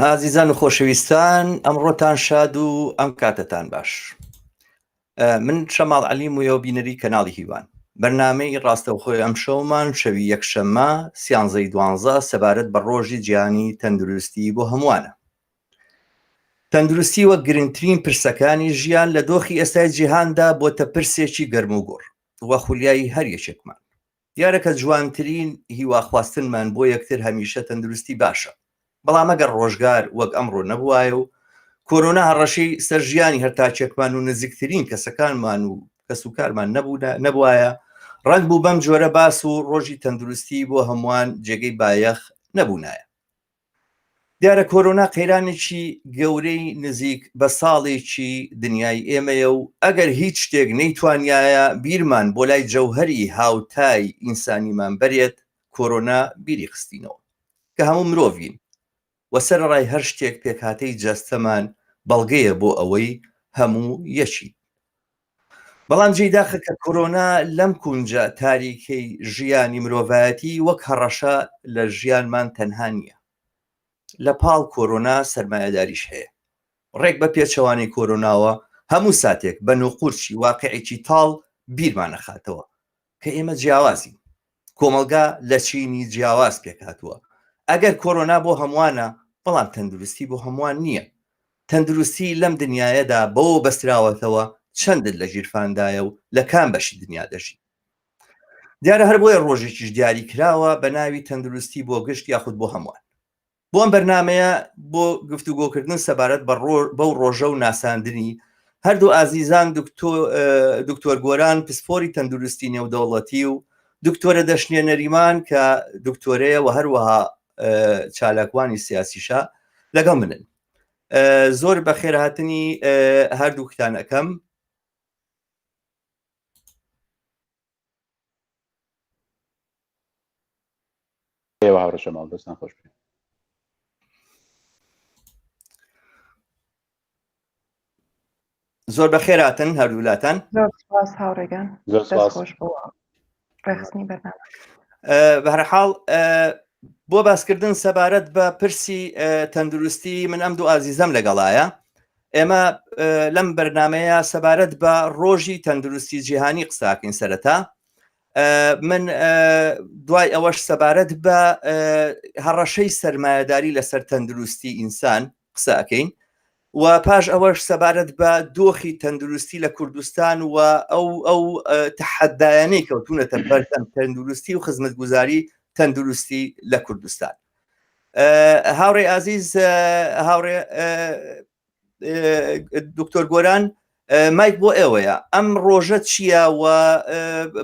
ئازیزان و خۆشەویستان ئەمڕۆتان شاد و ئەم کاتەتان باش من شەماڵ علی مویە و بینەری کەناڵی هیوان بەرنمەی ڕاستەوخۆی ئەم شەومان شەوی یەکشەممە سیانزەی دوانزە سەبارەت بە ڕۆژی جیانی تەندروستی بۆ هەمووانە تەندروستی وە گرنگترین پرسەکانی ژیان لە دۆخی ئێستای جیهاندا بۆتە پرسێکی گەرم و گۆڕ وە خولیایی هەر یەکێکمان دیارە کە جوانترین هیوا خواستنمان بۆ یەکتر هەمیشە تەندروستی باشە، بەڵام ئەگەر ڕۆژگار وەک ئەمڕۆ نەبوایە و کۆرۆنا هەڕەشەی سەر ژیانی هەر تاکێکمان و نزیکترین کەسەکانمان و کەسوکارمان نەبوونە نەبوایە ڕەنگ بوو بەم جۆرە باس و ڕۆژی تەندروستی بۆ هەمووان جێگەی بایەخ نەبوونایە. دیارە کۆرۆنا قەیرانێکی گەورەی نزیک بە ساڵێکی دنیای ئێمەیە و ئەگەر هیچ شتێک نەیتوانیایە بیرمان بۆ لای جەوهەری هاوتای ئینسانیمان بەرێت کۆرۆنا بیری خستینەوە کە هەموو مرۆڤین و سەرەڕای هەر شتێک پێکهاتەی جەستەمان بەڵگەیە بۆ ئەوەی هەموو یەکین. بەڵام جێی داخە کە کۆرۆنا لەم کونجە تاریکەی ژیانی مرۆڤایەتی وەک هەڕەشە لە ژیانمان تەنها نییە لە پاڵ کۆرۆنا سەرمایەداریش هەیە ڕێک بە پێچەوانەی کۆرۆناوە هەموو ساتێک بە نوقورچی واقعێکی تاڵ بیرمانەخاتەوە کە ئێمە جیاوازین کۆمەلگا لە چینی جیاواز پێکاتوە ئەگەر کۆرۆنا بۆ هەمووانە بەڵام تەندروستی بۆ هەمووان نییە تەندروستی لەم دنیاەدا بەوە بەستراوەتەوە چەندت لە ژیرفاندایە و لە کام بەشی دنیا دەژی دیارە هەر بۆیە ڕۆژێکیش دیاری کراوە بە ناوی تەندروستی بۆ گشت یاخود بۆ هەمووان بۆ ئەم بەرنمەیە بۆ گفتوگۆکردن سەبارەت بەو ڕۆژە و ناساندنی هەردوو ئازیزان دکتۆر گۆران پسپۆری تەندروستی نێودەوڵەتی و دکتۆرە دەشنێ نەریمان کە دکتۆرەیە و هەروەها چالاکوانی سیاسیشە لەگەڵ منن زۆر بە خێرهاتنی هەردووکتان ئەەکەم ئێوە هاوڕێ شەماڵ دەستان خۆش بێت زۆر بەخێراتن هەردوولاتان هاوڕێگان خۆش بووە ڕێخستنی بەرنامە بەهرحاڵ بۆ باسکردن سەبارەت بە پرسی تەندروستی من ئەم دوو ئازیزەم لەگەڵایە ئێمە لەم بەرنمەیە سەبارەت بە ڕۆژی تەندروستی جیهانی قساکەین سەرەتا من دوای ئەوەش سەبارەت بە هەڕەشەی سرمایهداری لەسەر تەندروستی ئینسان قساکەین و پاش ئەوەش سەبارەت بە دۆخی تەندروستی لە کوردستان و ئەو ئەو تحدایانەی کەوتونەتە بەردەم تەندروستی و خزمەت گوزاری تەندروستی لە کوردستان هاوڕێ ئازیز هاوڕێ دکتۆر گۆران مایک بۆ ئێوەیە ئەم ڕۆژە چییە و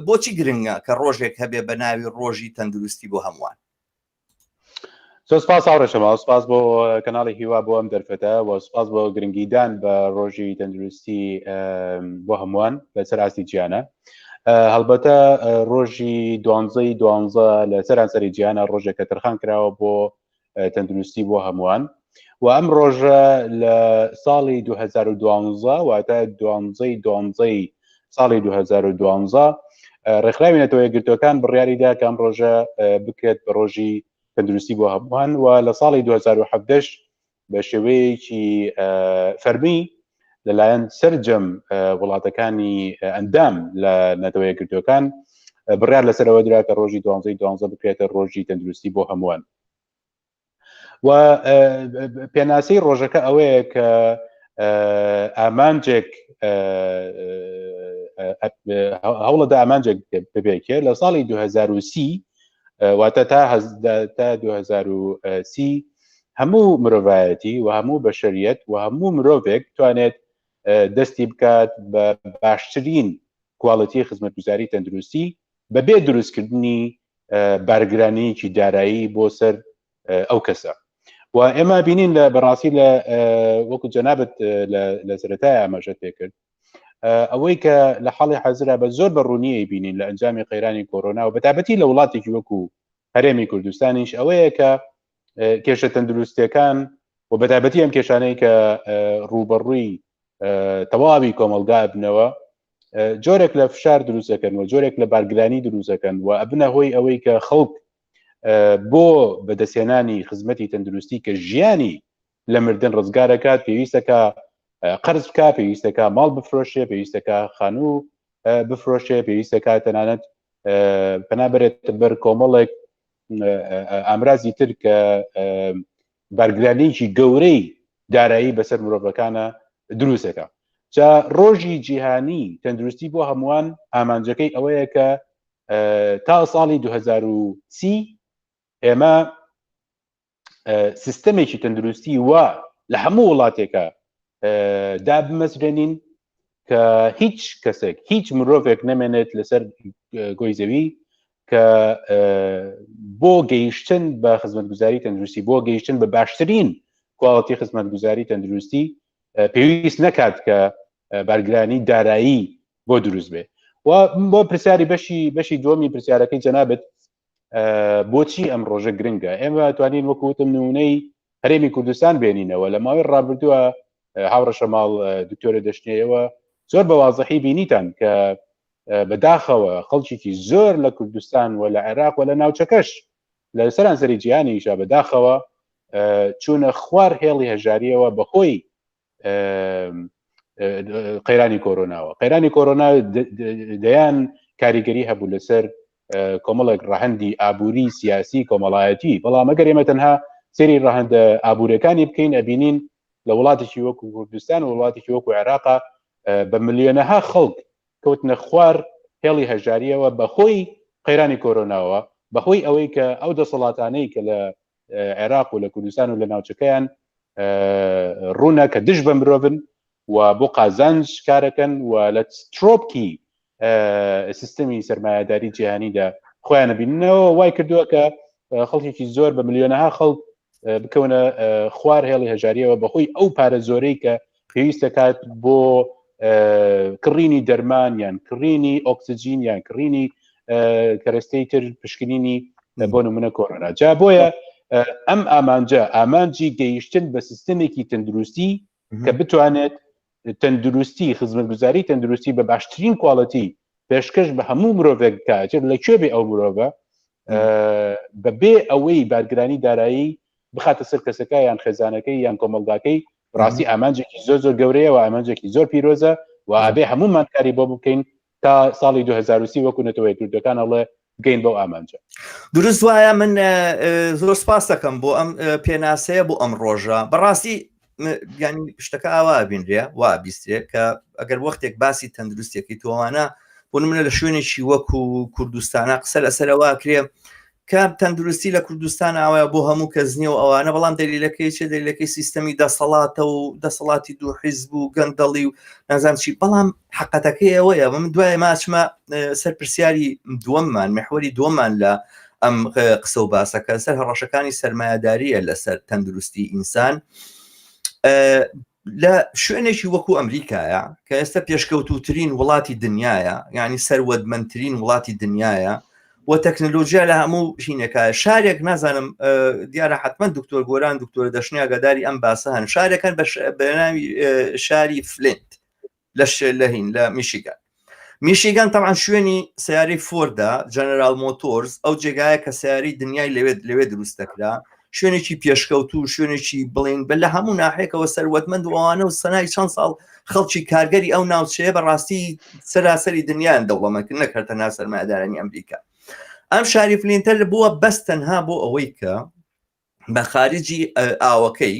بۆچی گرنگە کە ڕۆژێک هەبێ بە ناوی ڕۆژی تەندروستی بۆ هەمووان زۆر سپاس هاوڕێشەما سپاس بۆ کەناڵی هیوا بۆ ئەم دەرفەتە و سپاس بۆ گرنگیدان بە ڕۆژی تەندروستی بۆ هەمووان لەسەر ئاستی جیانە هەڵبەتە ڕۆژی دوانزەی دوانزە لە سەرانسەری جیانە ڕۆژێکە تەرخان کراوە بۆ تەندروستی بۆ هەمووان و ئەم ڕۆژە لە ساڵی 2012 واتە دوانزەی دوانزەی ساڵی 2012 ڕێکخراوی نەتەوە یەکگرتوەکان بڕیاریدا کام ڕۆژە بکرێت بە ڕۆژی تەندروستی بۆ هەمووان و لە ساڵی 2017 بە شێوەیەکی فەرمی لەلایەن سرجەم وڵاتەکانی ئەندام لە نەتەوە یەکگرتوەکان بڕیار لەسەرەوە درا کە ڕۆژی دوانزەی دوانزە بکرێتە ڕۆژی تەندروستی بۆ هەمووان و پێناسەی ڕۆژەکە ئەوەیە کە ئامانجێک هەوڵە دا ئامانجێک ببێکێ لە ساڵی 2030 واتە تا 2030 هەموو مرۆڤایەتی و هەموو بەشەریەت و هەموو مرۆڤێک توانێت دەستی بکات بە باشترین کوالڵەتی خزمەتگوزاری تەندروستی بەبێ دروستکردنی بارگرانەیەکی دارایی بۆ سەر ئەو کەسە و ئێمە بینین لە بەڕاستی لە وەکو جەنابەت لە سەرەتای ئاماژەت پێکرد ئەوەی کە لە حاڵی حەزرا بە زۆر بە ڕوونیی بینین لە ئەنجامی قەیرانی کۆرۆنا و بەتابەتی لە وڵاتێکی وەکو هەرێمی کوردستانیش ئەوەیە کە کێشە تەندروستیەکان و بەتابەتی ئەم کێشانەی کە ڕوبەڕووی تەواوی کۆمەلگا بنەوە جۆرێک لە فشار دروستەکەن و جۆرێک لە بارگرانی دروستەکەن و ئەبنە هۆی ئەوەی کە خەڵک بۆ بەدەستێنانی خزمەتی تەندروستی کە ژیانی لە مردن ڕزگارەکات پێویستەکە قرز بکە پێویستەکە ماڵ بفرۆشێ پێویستەکە خانوو بفرۆشێ پێویستەکە تەنانەت پەنابرێت بەر کۆمەڵێک ئامرازی تر کە بارگرانێکی گەورەی دارایی بەسەر مرۆڤەکانە دروستەکە جا ڕۆژی جیهانی تەندروستی بۆ هەمووان ئامانجەکەی ئەوەیە کە تا ساڵی 2030 ئێمە سیستەمێکی تەندروستی وا لە هەموو وڵاتێکە دابمەزرێنین کە هیچ کەسێک هیچ مرۆڤێک نەمێنێت لەسەر گۆی زەوی کە بۆ گەیشتن بە خزمەتگوزاری تەندروستی بۆ گەیشتن بە باشترین کواڵەتی خزمەتگوزاری تەندروستی پێویست نەکات کە بارگرانی دارایی بۆ دروست بێ و بۆ پرسیاری بەشی بەشی دومی پرسیارەکەی جەنابەت بۆچی ئەم ڕۆژە گرنگە ئێمە توانین وەکوتم نمونەی هەرێمی کوردستان بێنینەوە لە ماوەی ڕابردووە هاوڕەشە ماڵ دکتۆرە دەشتنەوە زۆر بە وازەحی بینیتان کە بەداخەوە خەڵکیی زۆر لە کوردستان و لە عێراق و لە ناوچەکەش لە سەرانسەری جیهانیشا بەداخەوە چوونە خوار هێڵی هەژاریەوە بەهۆی قەیرانی کۆرۆناوە قەیرانی کۆرۆنا دەیان کاریگەری هەبوو لەسەر کۆمەڵێک ڕەهندی ئابووری سیاسی کۆمەڵایەتی بەڵام ئەگەر ئێمە تەنها سری ڕەهندە ئابوورەکانی بکەین ئەبینین لە وڵاتێکی وەکو کوردستان و وڵاتێکی وەکو عێراقا بە ملیۆنەها خەڵک کەوتنە خوار هێڵی هەژاریەوە بەخۆی قەیرانی کۆرۆناوە بەهۆی ئەوەی کە ئەو دەسەڵاتانەی کە لە عێراق و لە کوردستان و لە ناوچەکەیان ڕوونە کە دژ بە مرۆڤن و بۆ قازانج کارەکەن و لە ترۆپکی سیستمی سرمایهداری جیهانیدا خۆیانە بینەوە وای کردووە کە خەڵکێکی زۆر بە ملیۆنەها خەڵک بکەونە خوار هێڵی هەژاریەوە بەهۆی ئەو پارە زۆرەی کە پێویست دەکات بۆ کڕینی دەرمان یان کڕینی ئۆکسجین یان کڕینی کەرەستەی تر پشکنینی بۆ نمونە کۆرۆنا جا بۆیە ئەم ئامانجە ئامانجی گەیشتن بە سیستمێکی تەندروستی کە بتوانێت تەندروستی خزمەتگوزاری تەندروستی بە باشترین کوالەتی پێشکەش بە هەموو مرۆڤێک کاتێت لە کوێ بێ ئەو مرۆڤە بەبێ ئەوەی بارگرانی دارایی بخاتە سەر کەسەکە یان خێزانەکەی یان کۆمەلگاکەی بەڕاستی ئامانجێکی زۆر زۆر گەورەیە و ئامانجێکی زۆر پیرۆزە و ئابێ هەمومان کاری بۆ بکەین تا ساڵی 2030 وەکو نەتەوەی کوردەکان ئەڵێ بگەین بەو ئامانجە دروست وایە من زۆر سپاس دەکەم بۆ ئەم پێناسەیە بۆ ئەم ڕۆژە بەڕاستی ینی شتەکە ئاوا بینرێ وا بیسترێ کە ئەگەر وەختێک باسی تەندروستێکی تۆوانە بۆ منە لە شوێنێکی وەکو کوردستانە قسە لەسەرەوە کرێ کام تەندروستی لە کوردستان ئاوایە بۆ هەموو کەس نییە و ئەوانە بەڵام دەلیلەکەی چێ دەلیلەکەی سیستەمی دەسەڵاتە و دەسەڵاتی دوو حیز بوو گەندەڵی و نازان چی بەڵام حقەتەکەی ئەوەیە من دوای ماچمە سەر پرسیاری دووەممان محوەری دووەمان لە ئەم قسە و باسەکە سەر هەڕەشەکانی سرمایهداریە لەسەر تەندروستی ئینسان لە شوێنێکی وەکو ئەمریکایە کە ئێستا پێشکەوتوترین وڵاتی دنیاە یعنی سەروەدمەندترین وڵاتی دنیاە و تەکنەلۆژیا لە هەموو ژینەکە شارێک نازانم دیارە حتمما دکتۆر گۆران دکتۆر دەشنیاگەداری ئەم باسە هەن شارەکان بەناوی شاری فلنت لە شێلەهین لە میشیگان میشیگان تەعاان شوێنی سیارەی فۆردا جەنەرال مۆتۆرز ئەو جێگایە کە سیاری دنیای لەوێت لەوێ دروست دەکرا شوێنێکی پێشکەوتو شوێنێکی بڵین بە لە هەموو ناحێکەوە سەروەتمەند وانە و سەنای چەند ساڵ خەڵکی کارگەری ئەو ناوچەیە بەڕاستی سەراسەری دنیایان دەوڵەمەکرد نەکردە ناسەرمادارانی ئەمریکا ئەم شاری فلینتەر بووە بەس تەنها بۆ ئەوەی کە بە خارجی ئاوەکەی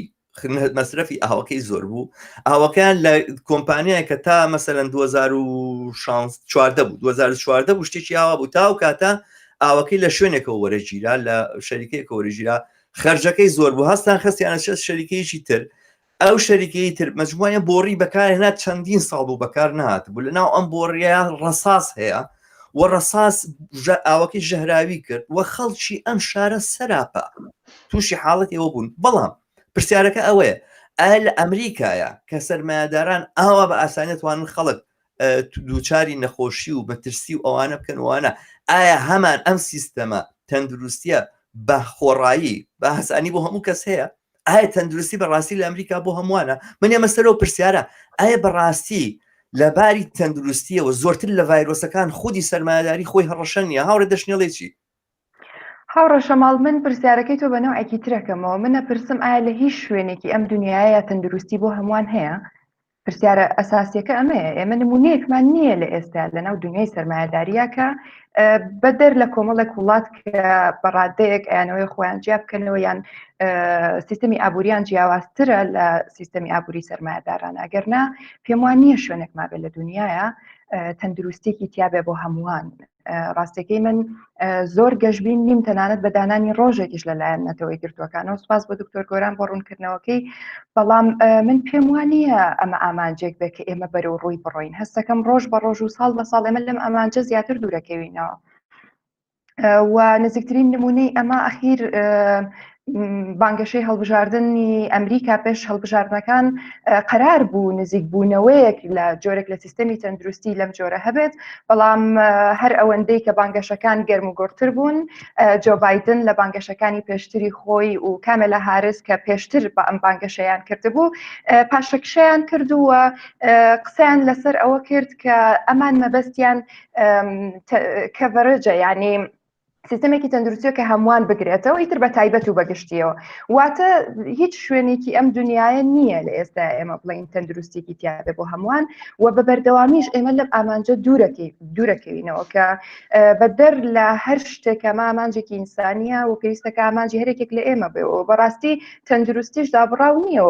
مەسرەفی ئاوەکەی زۆر بوو ئاوەکەیان لە کۆمپانیای کە تا مەسەەن 2014 بوو 2014 بوو شتێکی ئاوا بوو تا و کاتە ئاوەکەی لە شوێنێکەوە وەرەگیرا لە شەریکەیەکە وەرەگیرا خرجەکەی زۆر بوو هەستان خستیانە شە شەریکەیەکی تر ئەو شەریکەی تر مەجموعەیە بۆڕی بەکارهێنا چەندین ساڵ بوو بەکار نهاتبوو لە ناو ئەم بۆڕیە ڕەساس هەیە و ڕەساس ئاوەکەی ژەهراوی کرد و خەڵکی ئەم شارە سەراپا تووشی حاڵەت ئێوە بوون بەڵام پرسیارەکە ئەوەیە ئایا لە ئەمریکایە کە سەرمایهداران ئاوا بە ئاسانێتوانن خەڵک دووچاری نەخۆشی و مەترسی و ئەوانە بکەن وانە ئایا هەمان ئەم سیستەمە تەندروستیە بە خۆڕایی بە هەسانی بۆ هەموو کەس هەیە ئایا تەندروستی بەڕاستی لە ئەمریکا بۆ هەمووانە من ئێمە سەرەوە پرسیارە ئایا بەڕاستی لە باری تەندروستیەوە زۆرتر لە ڤایرۆسەکان خودی سەرمایداری خۆی هەڕەشە نیە هاورە دەشنێڵێکی هاوڕە شەماڵ من پرسیارەکەی تۆ بەنەوەکی ترەکەمەوە منە پرسم ئایا لە هیچ شوێنێکی ئەم دنیاە تەندروستی بۆ هەمووان هەیە پرسیارە ئەساسیەکە ئەمەیە، ئێمە نمونەیەکمان نییە لە ئێستا لەناو دنیای سەرمایەداریە کە بەدەر لە کۆمەڵێک وڵات کە بەڕادەیەک ئەیانەوەی خۆیان جیا بکەنەوە یان سیستمی ئابووریان جیاوازترە لە سیستمی ئابووری سەرمایەداران ئەگەرنا پێم وان نییە شوێنێکمابێت لە دنیاە تەندروستێکی تیاابێ بۆ هەمووان ڕاستەکەی من زۆر گەشببین نیم تەنانەت بە دانانی ڕۆژێکیش لەلایەن نەتەوەی گردوەکانەوە سپاس بۆ دکتۆر گۆران بۆ ڕوونکردنەوەکەی بەڵام من پێم وانە ئەمە ئامانجێک بێت کە ئێمە بەرە و ڕووی بڕۆین هەستەکەم ڕۆژ بە ڕۆژ و ساڵ بە ساڵ ئێمە لەم ئامانجە زیاتر دوورەکەوینەوە و نزیکترین نمونەی ئەمە ئەخیر بانگەشەی هەڵبژاردننی ئەمریکا پێش هەڵبژاردنەکان قەرار بوو نزیک بوونەوەیەک لە جۆرێک لە سیستەمی تەندروستی لەم جۆرە هەبێت بەڵام هەر ئەوەندەی کە بانگەشەکان گەرم و گۆرتر بوون جۆبایدن لە بانگەشەکانی پێشتری خۆی و کامە لە هارس کە پێشتر بە ئەم بانگەشەیان کردبوو پاشەکشیان کردووە قسەیان لەسەر ئەوە کرد کە ئەمان مەبەستیان کەڤەرجە یعنی سیستمێکی تەندروستیە کە هەمووان بگرێتەوە ئیتر بە تایبەت و بەگشتیەوە واتە هیچ شوێنێکی ئەم دنیاە نییە لە ئێستا ئێمە بڵین تەندروستێکی تیاێ بۆ هەمووان و بە بەردەوامیش ئێمە لەم ئامانجە دوورەکەی دوورەکەوینەوە کە بە دەر لە هەر شتێکە مامانجێکی ئینسانیە و پێویستەکە ئامانجی هەرێکێک لە ئێمە بێەوە بەڕاستی تەندروستیش دابڕاو نییە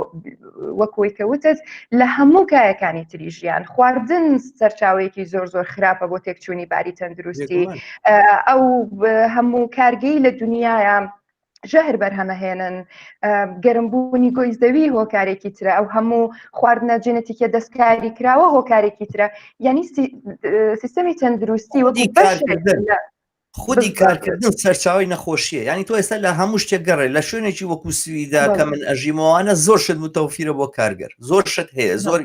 وەکۆی کە وتت لە هەموو کایەکانی تری ژیان خواردن سەرچاوەیەکی زۆر زۆر خراپە بۆ تێکچوونی باری تەندروستی ئەو هەموو کارگەی لە دنیاە ژەهر بەرهەمەهێنن گەرمبوونی گۆی زەوی هۆکارێکی ترە ئەو هەموو خواردنە جنێتیکە دەستکاری کراوە هۆکارێکی ترە یعنی سیستەمی تەندروستی وەکی خودی کارکردن سەرچاوی نەخۆشیە ینی تۆ ئێستا لە هەموو شتێک گەڕێ لە شوێنێکی وەکو سویدا کە من ئەژیمەوانە زۆر شت متەوفیرە بۆ کارگەر زۆر شت هەیە زۆر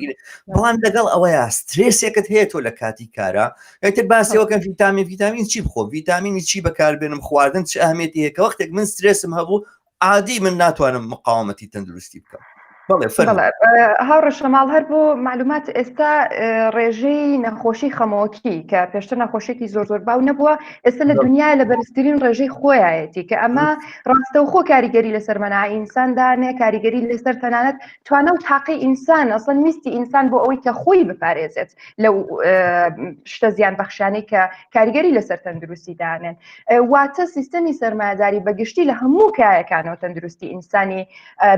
بەڵام لەگەڵ ئەوەیە سترێسێکت هەیە تۆ لە کاتی کارە ئەتر باسیەوەکەم ڤیتامین ڤیتامین چی بخۆ ڤیتامینی چی بەکاربێنم خواردن چ ئەهمێتی هەیە کە وەختێک من سترێسم هەبوو عادی من ناتوانم مقاومەتی تەندروستی بکەم هاوڕەشەماڵ هەر بۆ معلومات ئێستا ڕێژەی نەخۆشی خەمۆکی کە پێشتر نەخۆشیێکی زۆر زۆر باو نەبووە ئێستا لە دنیا لە بەرزترین ڕێژەی خۆیەتی کە ئەمە ڕاستەوخۆ کاریگەری لەسەر مەنا ئینساندانێ کاریگەری لەسەر تەنانەت توانە و تاقی ئینسان ئەسڵەن ویستی ئینسان بۆ ئەوەی کە خۆی بپارێزێت لەو شتە زیان بەخشانەی کە کاریگەری لەسەر تەندروستی دانێن واتە سیستەمی سەرمایداری بەگشتی لە هەموو کایەکانەوە تەندروستی ئینسانی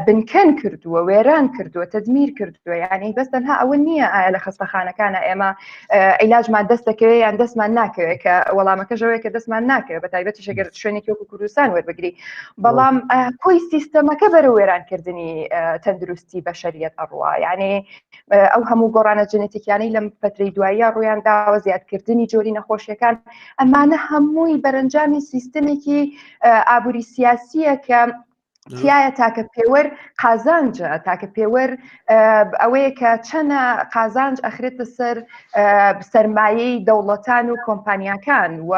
بنکەن کردووە وێران کردووە تدمیر کردووە یعنی بەس تەنها ئەوە نییە ئایا لە خستەخانەکانە ئێمە ئیلاجمان دەست دەکەوێت یان دەستمان ناکەوێت کە وەڵامەکە ژەوەیە کە دەستمان ناکەوێت بە تایبەتی شەگەر شوێنێکی وەکو کوردستان وەربگری بەڵام کۆی سیستەمەکە بەرە وێرانکردنی تەندروستی بەشریت ئەڕوا یعنی ئەو هەموو گۆڕانە جنێتیکیانەی لەم پەتری دواییە ڕویان داوە زیادکردنی جۆری نەخۆشیەکان ئەمانە هەمووی بەرەنجامی سیستمێکی ئابووری سیاسیە کە تایە تاکە پێوەر قازانجە تاکە پێوەر ئەوەیە کە چەنە قازانج ئەخرێتە سەر سرمایەی دەوڵەتان و کۆمپانیاکان و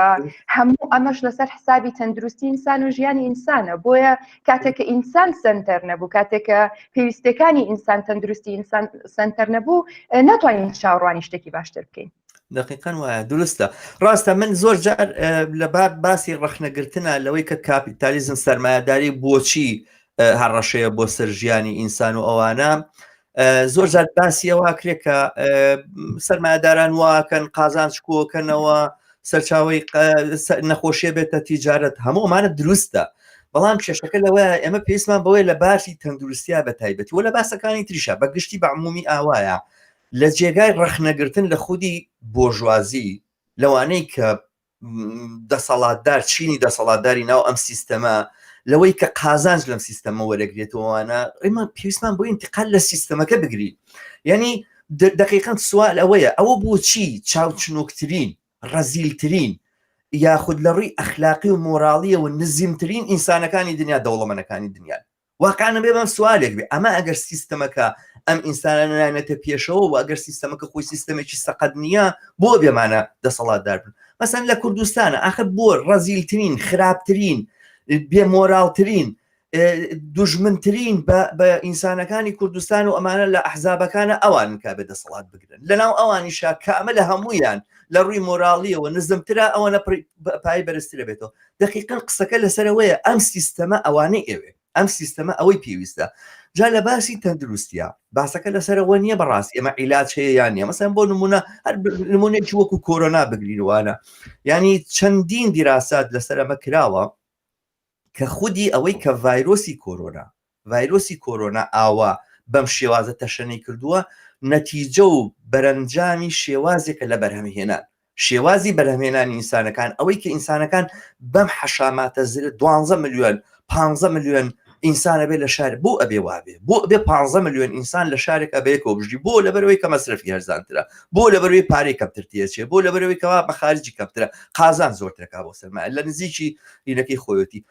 هەموو ئەمەش لەسەر حسابی تەندروستی ئینسان و ژیانی ئینسانە بۆیە کاتێک کە ئینسان سنتەر نەبوو کاتێکە پێویستەکانی ئینسان تەندروستی ئینسان سنتەر نەبوو ناتوانین چاوڕوانی شتێکی باشتر بکەین دقیقەن وایە دروستە ڕاستە من زۆر جار لە بار باسی ڕخنەگرتنە لەوەی کە کاپیتالیزم سەرمایهداری بۆچی هەڕەشەیە بۆ سەر ژیانی ئینسان و ئەوانە زۆر جار باسی ئەوواکرێت کە سەرمایهداران واکەن قازان شکۆکەنەوە سەرچاوی نەخۆشیە بێتە تیجارەت هەموومانە دروستە بەڵام کێشەکە لەوە ئێمە پێستمان بەوەی لە باسی تەندروستیا بە تایبەتی و لە باسەکانی تریشە بە گشتی بەعمومی ئاوایە لە جێگای ڕەخنەگرتن لە خودی بۆژوازی لەوانەی کە دەسەڵاتدار چینی دەسەڵاتداری ناو ئەم سیستەمە لەوەی کە قازانج لەم سیستەمە وەرەگرێتەوەوانە ڕێمان پێویستمان بۆ ئینتقال لە سیستەمەکە بگری یعنی دقیقەن سوال ئەوەیە ئەوە بۆچی چاوچنۆکترین ڕەزیلترین یاخود لە ڕووی ئەخلاقی و مۆراڵیەوە نزیمترین ئینسانەکانی دنیا دەوڵەمەنەکانی دنیا واقیعەن ئەبێ بەم سوالێک بێ ئەمە ئەگەر سیستەمەکە ئەم ئینسانانە نانێتە پێشەوە و ئەگەر سیستەمەکە خۆی سیستەمێکی سەقەت نییە بۆ بێمانە دەسەڵاتدار بن مەسەن لە کوردستانە ئاخر بۆ ڕەزیلترین خراپترین بێمۆراڵترین دژمنترین بە ئینسانەکانی کوردستان و ئەمانە لە ئەحزابەکانە ئەوان کا بێ دەسەڵات بگرن لەناو ئەوانی شاکامە لە هەمویان لە ڕووی مۆراڵیەوە نزمترا ئەوەنە پای بەرزترە بێتەوە دەقیقەن قسەکە لەسەرەوەیە ئەم سیستەمە ئەوانەی ئەوێ ئەم سیستەمە ئەوەی پێویستە جا لە باسی تەندروستە باسەکە لەسەرەوە نییە بەڕاست ئێمە عیلاج هەیە یان نیە مەسەن بۆ نمونە هەر نمونێکی وەکو کۆرۆنا بگرینوانە ینی چەندین دیراسات لەسەرەمە کراوە کە خودی ئەوەی کە ڤایرۆسی کۆرۆنا ڤایرۆسی کۆرۆنا ئاوا بەم شێوازە تەشەنەی کردووە، نەتیجە و بەرەنجامی شێوازێکە لە بەرهەمهێنان. شێوازی بەرهەمهێنانی ئینسانەکان، ئەوەی کە ئینسانەکان بەم حەشاماتە زلە، دوانزە ملیۆن، پانزە ملیۆن ئینسان ئەبێ لە شار، بۆ ئەبێ وا بێ؟ بۆ ئەبێ پانزە ملیۆن ئینسان لە شارێکا بە یەکەوە بژی؟ بۆ؟ لەبەرئەوەی کە مەسرەفی هەرزانترە، بۆ لەبەرئەوەی پارەی کەمتر تێدەچێ، بۆ لەبەرئەوەی کەوا بە خارجی کەمترە، قازانج زۆرترەکا بۆ سەرمایە لە نزیکی ینەکەی خۆیەتی.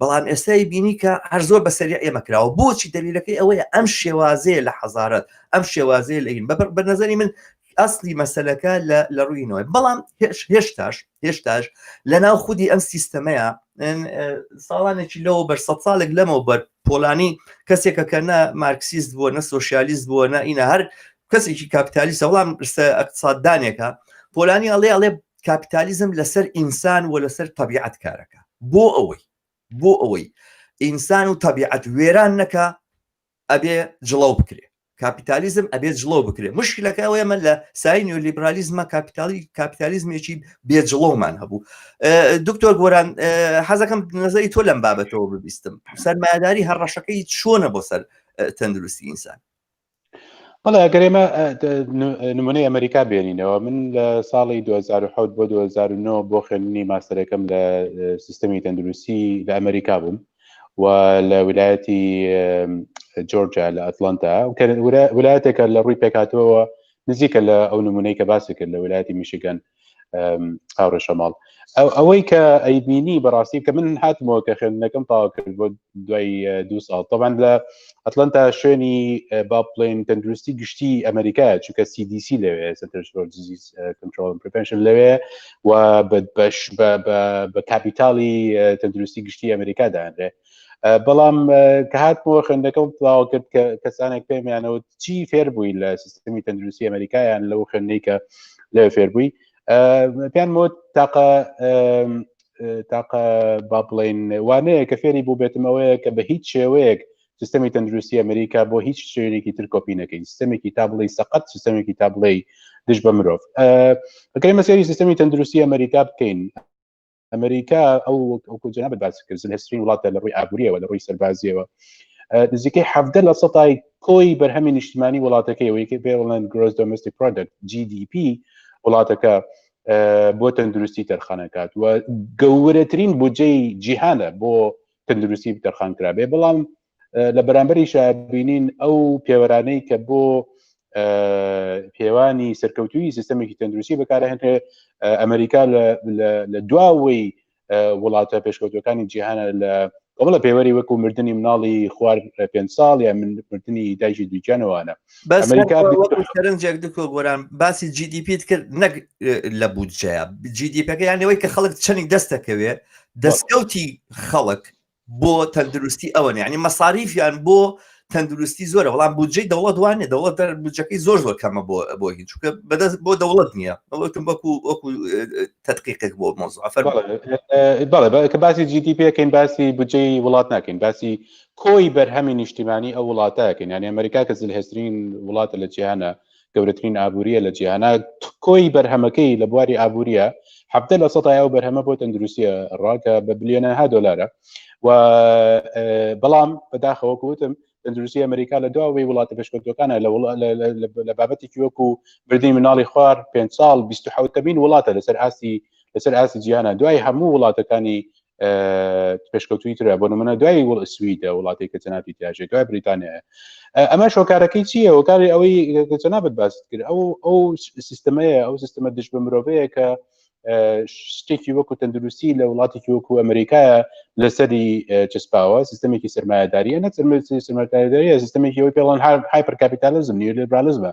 بەڵام ئێستای بینی کە هەر زۆر بە سەری ئێمە کراوە بۆچی دەلیلەکەی ئەوەیە ئەم شێوازەیە لە حەزارەت ئەم شێوازەیە لەین بە بە نظری من ئەسلی مەسلەکە لە ڕووینەوەی بەڵام هێشتاش هێشتاش لە ناو خودی ئەم سیستەمەیە ساڵانێکی لەوە بەر سە ساڵێک لەمەوە بەر پۆلانی کەسێکە کە نە مارکسیست بووە نە سوۆسیالیست بووە نە ئینە هەر کەسێکی کاپیتالی سەوڵام ئەقتصاددانێکە پۆلانی ئەڵێ ئەڵێ کاپیتالیزم لەسەر ئینسان و لەسەر طبیعت کارەکە بۆ ئەوەی بۆ ئەوەی ئینسان و طبیعت وێران نەکە ئەبێ جڵەو بکرێ کاپیتالیزم ئەبێت جڵەو بکرێت مشکلەکە ئەوەیەمە لە سای نیۆلیبرالیزمە کاپیتالی کاپیتالیزمێکی بێ جڵەومان هەبوو دکتۆر گۆران حەزەکەم نظری تۆ لەم بابەتەوە ببیستم سەرمایداری هەڕەشەکەی چۆنە بۆ سەر تەندروستی ئینسان بەڵێ ئەگەر ئێمە نمونەی ئەمریکا بێنینەوە من لە ساڵی 2010 بۆ 2009 بۆ خوێندنی ماستەرەکەم لە سیستەمی تەندروستی لە ئەمریکا بووم و لە ویلایەتی جۆرجیا لە ئەتلانتا ویلایەتێکە لە ڕووی پێکاتەوە نزیکە لە ئەو نمونەی کە باسی کرد لە ویلایەتی میشیگەن هاورە شەماڵ ئەوەی کە ئەیبینی بەڕاستی کە من هاتمەوە کە خوێندنەکەم تاوا کرد بۆ دوای دو ساڵ تەبان لە ئەتلانتا شوێنی با بڵێن تەندروستی گشتی ئەمریکا چونکە CDC لەوێ سنترۆل کنترۆل پرپنشن لەوێ و بەش بە کاپیتاڵی تەندروستی گشتی ئەمریکا دانرێ بەڵام کە هاتمەوە خوێندەکەم پلاوە کرد کە کەسانێک پێمیانەوە چی فێربووی لە سیستمی تەندروستی ئەمریکایان لەو خوێندەی کە لە فێربووی پێیان مۆت تاقە تاقە با بڵین وانەیە کە فێری بوو بێتمەوەیە کە بە هیچ شێوەیەک سیستەمی تەندروستی ئەمریکا بۆ هیچ شوێنێکی تر کۆپی نەکەین سیستمێکی تا بڵی سەقەت سیستمێکی تا بڵێ دژ بە مرۆڤ ئەگەری مەسیری سیستمی تەندروستی ئەمریکا بکەین ئەمریکا ئەو ئەوکوجنا بە باس کرد هەسترین وڵاتە لە ڕووی ئابووریەوە لە ڕووی سەربازیەوە نزیکەی حەفدە لە سەتای کۆی بەرهەمی نیشتمانی وڵاتەکەی وەیکە بێڵند گرۆز دۆمستی پرۆدکت GDP وڵاتەکە بۆ تەندروستی تەرخانەکات و گەورەترین بودجەی جیهانە بۆ تەندروستی بتەرخان کرابێ بەڵام لە بەرامبەری شابینین ئەو پێوەرانەی کە بۆ پێوانی سەرکەوتوی سیستمێکی تەندروستی بەکارهێنێ ئەمریکا لە دواوەی وڵاتە پێشکەوتەکانی جیهانە لە ئەوڵە پێوەری وەکو مردنی مناڵی خوار پێ ساڵ یا مردنی دایکی دوجانەوانە بەس وەکو سەرنجێک دکۆ گۆران باسی جیدیپیت کرد نەک لە بودجەیە جیدیپەکە یانەوەی کە خەڵک چەنی دەستەکەوێ دەستکەوتی خەڵک بۆ تەندروستی ئەوەن ینی مەساریفیان بۆ تەندروستی زۆرە وەڵام بودجەی دەوڵەت وانێ دەوڵەت دەر بودجەکەی زۆر زۆر کەمە بۆ بۆ هیچ چکە بەدەست بۆ دەوڵەت نییە ئەوەتم وەکو وەکو تدقیقێک بۆ مۆزعفەر بەڵێ کە باسی جیدی پێکەین باسی بودجەی وڵات ناکەین باسی کۆی بەرهەمی نیشتیمانی ئەو وڵاتە کە نانی ئەمریکا کە زلهێسترین وڵاتە لە جیهانە گەورەترین ئابووریە لە جیهانە کۆی بەرهەمەکەی لە بواری ئابووریە حفتە لە سەدای ئەو بەرهەمە بۆ تەندروستیە ڕاکە بە بلیۆنەها دلارە و بەڵام بەداخەوە گوتم تەندروستی ئەمریکا لە دواوەی وڵاتە پێشکەوتەکانە لە بابەتێکی وەکو بردی مناڵی خوار پێ ساڵ 1970مین وڵاتە لەسەر ئاستی لەسەر ئاستی جیانە دوای هەموو وڵاتەکانی پێشکەوتوی ترە بۆ منە دوای وڵ سویدە وڵاتی کە جەنابی تاژێت دوای بریتانیا ئەمە شۆکارەکەی چییە وەکاری ئەوەی جەنابەت باست کرد ئەو ئەو سیستمەیە ئەو سیستمە دژ بە مرۆڤەیە کە شتێکی وەکو تەندروستی لە وڵاتێکی وەکو ئەمریکایە لەسەری چسپاوە سیستمێکی سرمایهداریە نە سرمەتاریداریە سیستمێکی ئەوی پێڵەن هایپر کاپیتالزم نیلیبرالزمە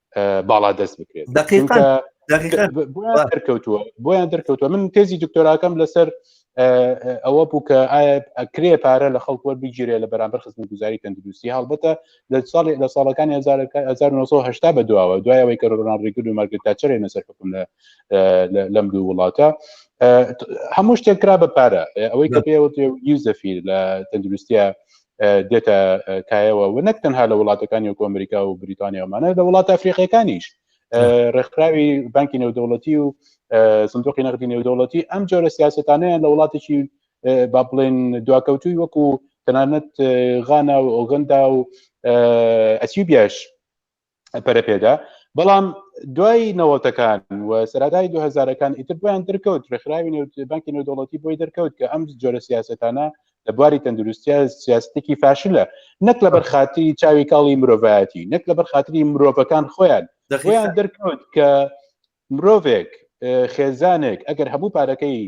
باڵا دەست بکرێت دەرکەوتووە بۆیان دەرکەوتوە من تێزی دکتۆراکەم لەسەر ئەوە بوو کە ئایا ئەکرێ پارە لە خەڵک وەر بگیرێ لە بەرامبەر خزم گوزاری تەندروستی هەڵبەتە لە ساڵی لە ساڵەکانی 1970 بە دواوە دوایەوەی کە ڕۆنان ڕیگل و مارگرێت تاچەرێ نەسەر حکوم لە لەم دوو وڵاتە هەموو شتێک کرا بە پارە ئەوەی کە پێوە یوزەفیر لە تەندروستیە دێتە کایەوە و نەک تەنها لە وڵاتەکانی وەکو ئەمریکا و بریتانیامانە لە وڵاتە ئەفریقیەکانیش ڕێکخراوی بانکی نێودەوڵەتی و سندوقی نەقدی نێودەوڵەتی ئەم جۆرە سیاستانەیان لە وڵاتێکی با بڵێن دواکەوتوی وەکو تەنانەت غانا و ئۆگەندا و ئەسیبیاش پەرەپێدا بەڵام دوای نەوەتەکان و سەرادای دو هزارەکان ئیتر بۆیان دەرکەوت ڕێکخراوی بانکی نێودوڵەتی بۆی دەرکەوت کە ئەم جۆرە سیاستانە لە بواری تەندروستیا سیاستێکی فاشلە نەک لە بەرخاتی چاوی کاڵی مرۆڤایەتی نەک لە بەرخاتری مرۆڤەکان خۆیان دەخیان دەرکەوت کە مرۆڤێک خێزانێک ئەگەر هەموو پارەکەی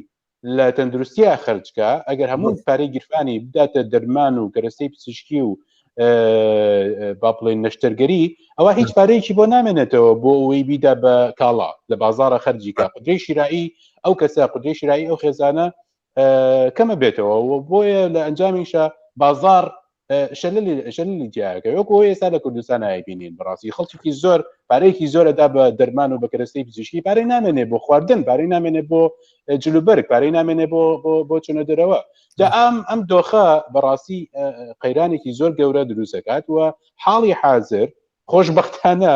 لە تەندروستیا خەرجکە ئەگەر هەموو پارەی گیرفانی بداتە دەرمان و کەرەستەی پزیشکی و با بڵێن نەشتەرگەری ئەوە هیچ پارەیەکی بۆ نامێنێتەوە بۆ ئەوەی بیدا بە کاڵا لە بازارە خەرجیکە قدرەی شیرایی ئەو کەسە قدرەی شیرایی ئەو خێزانە کەمە بێتەوە بۆیە لە ئەنجامیشە بازار شەلی جیاکە وەکو ئێستا لە کوردستان نایبینین بڕاستی خەڵکی زۆر پارەیەکی زۆرەدا بە دەرمان و بە کەرەستەی پزیشکی پارەی نامێنێ بۆ خواردن پارەی نامێنێ بۆ جلوبەرگ پارەی نامێنێ بۆ بۆ چونە دەرەوە جا ئەم ئەم دۆخە بەڕاستی قەیرانێکی زۆر گەورە دروستەکات و حاڵی حاضر خۆشببختانە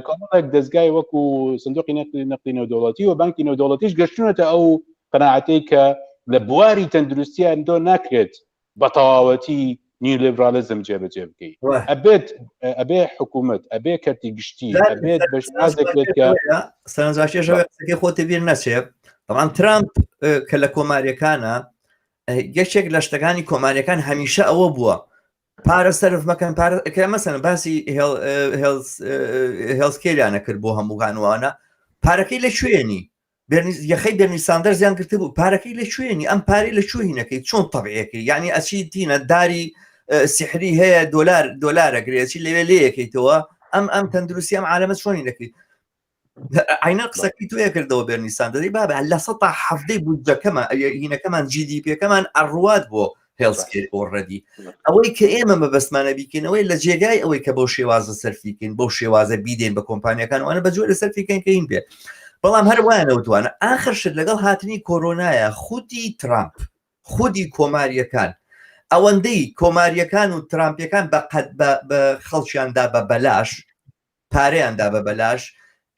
کۆمەڵێک دەستگای وەکو سندوقی نەقلی نەقلی نەودەوڵەتی و بانکی نەودەوڵەتیش گەشتونەتە ئەو قەنەعاتەی کە لە بواری تەندروستیان دۆ ناکرێت بە تەواوەتی نیو لیبرالیزم جێبەجێ بکەیت ئەبێت ئەبێ حکوومەت ئەبێ کەرتی گشتی ئەبێت بەشازێکێت کە سەرنجاشێژەکەی خۆتی بیر نەچێت بەڵام ترامپ کە لە کۆماریەکانە گەشتێک لە شتەکانی کۆماریەکان هەمیشە ئەوە بووە پارە سەرف مەکەن پارەکە مەسەن باسی هێڵسکێریانە کرد بۆ هەموو هانوانە پارەکەی لە شوێنی یەخەی بێنی ساندەر زیان کرد بوو پارەکەی لە شوێنی ئەم پارەی لە شوێنەکەی چۆن تەبعەکەی یعنی ئەچی تینە داری سحری هەیە دلار دلارە گرێچی لەوێ لەیەکەیتەوە ئەم ئەم تەندروستی ئەم عالەمە چۆنی دەکەیت عینە قسەکی توێ کردەوە بەرنیسان دەی با بە لە سە حەفتەی بودجەکەمە هینەکەمان جیدی پێکەمان ئەڕوات بۆ هێڵسکێت ئۆڕەدی ئەوەی کە ئێمە مەبەستمانە بیکەینەوەی لە جێگای ئەوەی کە بەو شێوازە سەرفیکەین بەو شێوازە بیدێن بە کۆمپانیەکان وانە بە جۆرە سەرفیکەین کەین بێ بەڵام هەر وایەنەوتوانە ئاخر شت لەگەڵ هاتنی کۆرۆنایە خودی ترامپ خودی کۆماریەکان ئەوەندەی کۆماریەکان و ترامپەکان بە قەت بە خەڵکیاندا بە بەلاش پارەیان دا بە بەلاش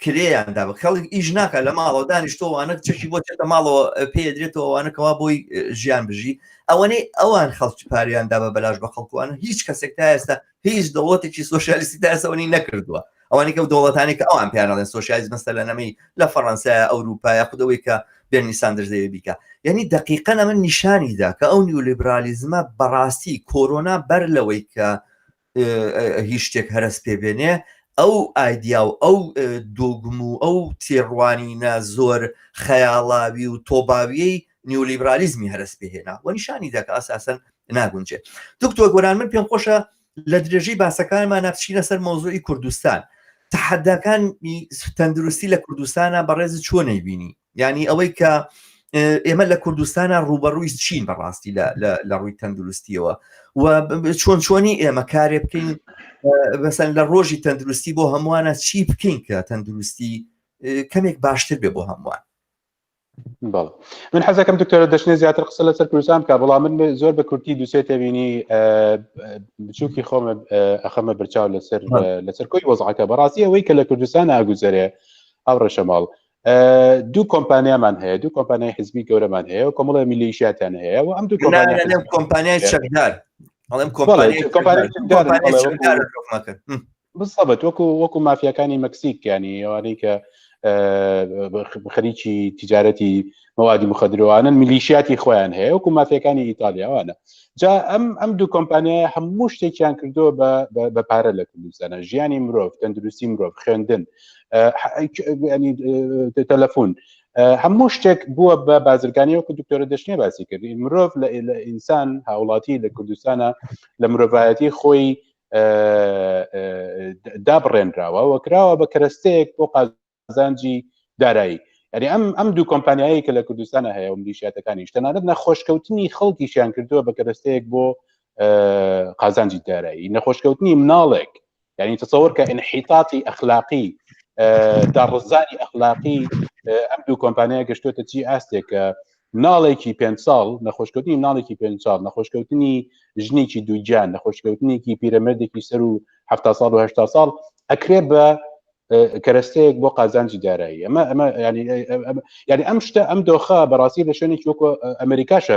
کرێیان دا بە خەڵک ئیش ناکە لە ماڵەوە دانیشتۆوانە چەکی بۆ چێتە ماڵەوە پێدرێتەوەوانەکەوا بۆی ژیان بژی ئەوەنەی ئەوان خەڵکی پاریان دا بە بەلاش بە خەڵکوان هیچ کەسێک تا ئێستا هیچ دەوڵەتێکی سوۆسیالیستی تا ئێسەوەنی نەکردووە ئەوانی کە و دەوڵەتانی کە ئەوان پیانڵێن سوۆسیالیز مەستە لە نەمەی لە فەڕەنسای ئەوروپایا خودەوەی کە بێنی ساندرزەیە بیکە یعنی دقیقە ئەمە نیشانیدا کە ئەو نیولیبرالیزمە بەڕاستی کۆرۆنا بەر لەوەی کە هیچ شتێک هەرس پێ بێنێ ئەو ئایدیا و ئەو دۆگم و ئەو تێڕوانینە زۆر خەیاڵاوی و تۆباویەی نیولیبرالیزمی هەرس پێهێنا و نیشانی دەکە ئاساسن ناگونجێت دکتۆر گۆران من پێم خۆشە لە درێژەی باسەکانمان ناپچینە سەر مۆزۆی کوردستان تحداکانی تەندروستی لە کوردستانە بەڕێز چۆنەی بینی یعنی ئەوەی کە ئێمە لە کوردستانە ڕوبەڕووی چین بەڕاستی لە ڕووی تەندروستیەوە و چۆن چۆنی ئێمە کارێ بکەین بەسەن لە ڕۆژی تەندروستی بۆ هەمووانە چی بکەین کە تەندروستی کەمێک باشتر بێ بۆ هەمووان بەڵ من حەزەکەم دکتۆرە دەشنێ زیاتر قسە لەسەر کوردستان کا بەڵام من زۆر بە کورتی دوسێ تێبینی بچووکی خۆم ئەخەمە برچاو لەسەر لەسەر کۆی وەزعەکە بەڕاستی ئەوەی کە لە کوردستان ئاگوزەرێ ئەو ڕێشەماڵ دوو کۆمپانیامان هەیە دوو کۆمپانیای حزبی گەورەمان هەیە و کۆمەڵە میلیشیاتیان هەیە و ئەم دوو کۆمپانیای چەکدار ئەڵێم بسەبەت وەکو وەکو مافیەکانی مەکسیکیانی ئەوانەی کە خەریکی تجارەتی مەوادی مخدرەوانن میلیشیاتی خۆیان هەیە وەکو مافیەکانی ئیتالیاوانە جا ئەم ئەم دوو کۆمپانیای هەموو شتێکیان کردووە بە پارە لە کوردستانە ژیانی مرۆڤ تەندروستی مرۆڤ خوێندن تەلەفۆن هەموو شتێک بووە بە بازرگانی وەکو دکتۆرە دەشتێ باسی کردی مرۆڤ لە ئینسان هاوڵاتی لە کوردستانە لە مرۆڤایەتی خۆی دابڕێنراوە وەکراوە بە کەرەستەیەک بۆ قازانجی دارایی ئەری ئەم ئەم دوو کۆمپانیایی کە لە کوردستانە هەیە و ملیشاتەکانی شتەنانەت نەخۆشکەوتنی خەڵکیشیان کردووە بە کەرەستەیەک بۆ قازانجی دارایی نەخۆشکەوتنی مناڵێک یعنی تەسەوەر کە انحیتاتی ئەخلاقی داڕزانی ئەخلاقی ئەم دوو کۆمپانیا گەشتوێتە چی ئاستێکە ناڵێکی پێ ساڵ نەخۆشکەوتنی ناڵێکی پێ ساڵ نەخۆشکەوتنی ژنێکی دووجان نەخۆشکەوتنێکی پیرەمەردێکی سەر و ه ساڵ و هشتا ساڵ ئەکرێ بە کەرەستەیەک بۆ قازانجی دارایی ئەمە ئەمە ینی ئەم شتە ئەم دۆخە بەڕاستی لە شوێنێک وەکو ئەمریکاشە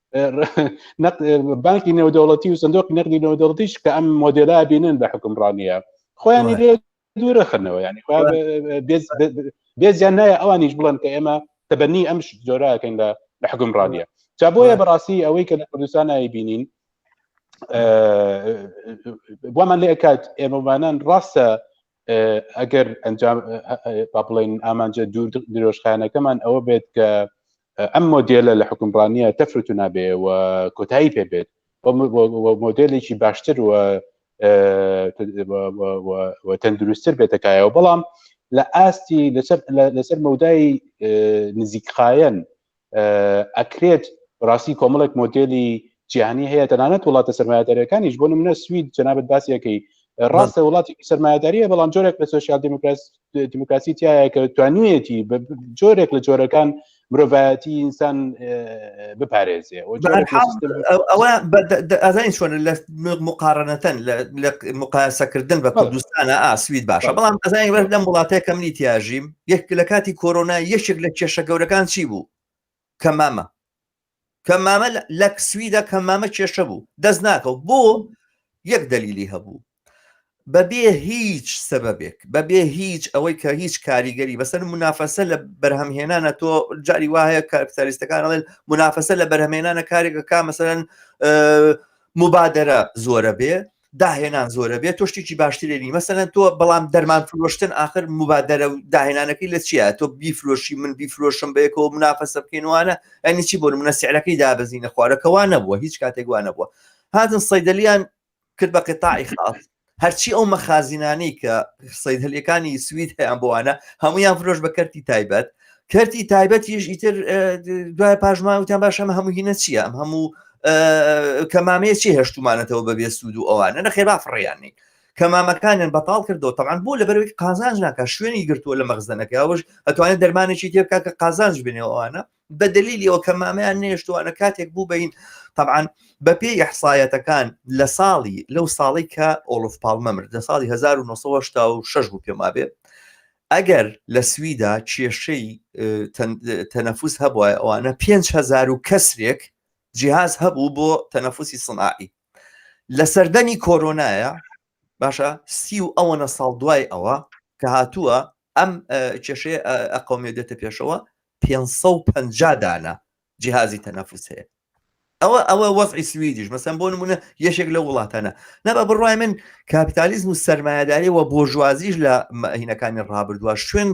بانکی نێودەوڵەتی و سندۆقی نەقدی نێودەوڵەتیش کە ئەم مۆدێلا بینن بە حکمڕانیە خۆیانی لێ دوورەخنەوە ینی بێزیان نایە ئەوانیش بڵند کە ئێمە تەبەنی ئەم جۆراکەین لە لە حکمڕانیە جا بۆیە بەڕاستی ئەوەی کە لە کوردستان نایی بینین وامان لێ کات ئێمەمانان ڕاستە ئەگەر ئەنجام با بڵێن ئامانجە دوور درۆژخانەکەمان ئەوە بێت کە ئەم مۆدیێلە لە حکومڕانیە تەفرت و نابێ و کۆتایی پێ بێت مۆدلێکی باشتر و تەندروستتر بێتەکایەوە بەڵام لە ئاستی لەسەر مەودای نزیکخایەن ئەکرێت ڕاستی کۆمەڵێک مۆدلی جیهانی هەیە تەنانەت وڵاتە سەرمایهدارەکانیش بۆ نمونە سوید جەنابەت باسیەکەی ڕاستە وڵاتی سەرمایهداریە بەڵام جۆرێک لە سوسیال دیموکراس دیموکراسی تایە کە توانیەتی جۆرێک لە جۆرەکان مرۆڤایەتی ئینسان بپارێزێ ئەوە ئازای چۆن لە مقارنەتەن لە مقاسەکردن بە کوردستانە ئاسوید باشە بەڵام ئەزای وەر لەم وڵاتەیە کەمنی تیاژیم گشت لە کاتی کۆرۆنا یەکێک لە کێشە گەورەکان چی بوو؟ کەمامە. کەمامە لە سویدا کەمامە کێشە بوو دەست ناکەوت بۆ یەک دەلیلی هەبوو بەبێ هیچ سەبەبێک بەبێ هیچ ئەوەی کە هیچ کاریگەری بەسەر منافەسە لە بەرهەمهێنانە تۆ جاری وایە کارپسالیستەکان ئەڵێن منافەسە لە بەرهەمێنانە کارێکە کا مەسەرەن مبادرە زۆرە بێ داهێنان زۆرە بێت تۆ شتێکی باشترێنی مەسەن تۆ بەڵام دەرمان فرۆشتن آخر مبادرە و داهێنانەکەی لە چیە تۆ بیفرۆشی من بیفرۆشم بەیەکەوە منافەسە بکەینوانە ئەنی چی بۆ منە سعرەکەی دابزینە خوارەکەوا نەبووە هیچ کاتێک وانە بووە هاتن سەیدلیان کرد بە قطاعی خاص هەرچی ئەو مەخازینانەی کە سەید هەلەکانی سوید هەیان بۆوانە هەمویان فرۆش بە کەرتی تایبەت کەرتی تایبەتیش ئیتر دوای پاشمان وتیان باشەم هەموو هینە چییە ئەم هەموو کەمامەیە چی هەشتمانەتەوە بەبێ سوود و ئەوانە نەخێ بافڕیاننی کەمامەکانیان بەتاڵ کردەوە تەمان بۆ لە بەرەوەی قازانج ناکە شوێنی گرتووە لە مەغزدەنەکە ئەوش ئەتوانێت دەرمانێکی تێبکە کە قازانج بنێەوەوانە بە دلیلی ئەو کەمامیان نێشتوانە کاتێک بوو بەین طبعاان بە پێی یحسایەتەکان لە ساڵی لەو ساڵی کە ئۆڵف پاڵمە مرد لە ساڵی 1970 شش بوو پێما بێ ئەگەر لە سویدا کێشەی تەنەفوس هەبوایە ئەوانە پێنج هەزار و کەسرێک جیهاز هەبوو بۆ تەنەفوسی سنعائی لە سەردەمی کۆرۆنایە باشە سی و ئەوەنە ساڵ دوای ئەوە کە هاتووە ئەم کێشێ ئەقومێ دێتە پێشەوە 550 دانە جیهازی تەنەفوس هەیە ئەوە ئەوە وەزعی سویدیش مەسەن بۆ نمونە یەشێک لە وڵاتانە نەبە بڕای من کاپیتالیزم و سەرمایهداری و بۆژوازیش لە مەهینەکانی ڕابردووە شوێن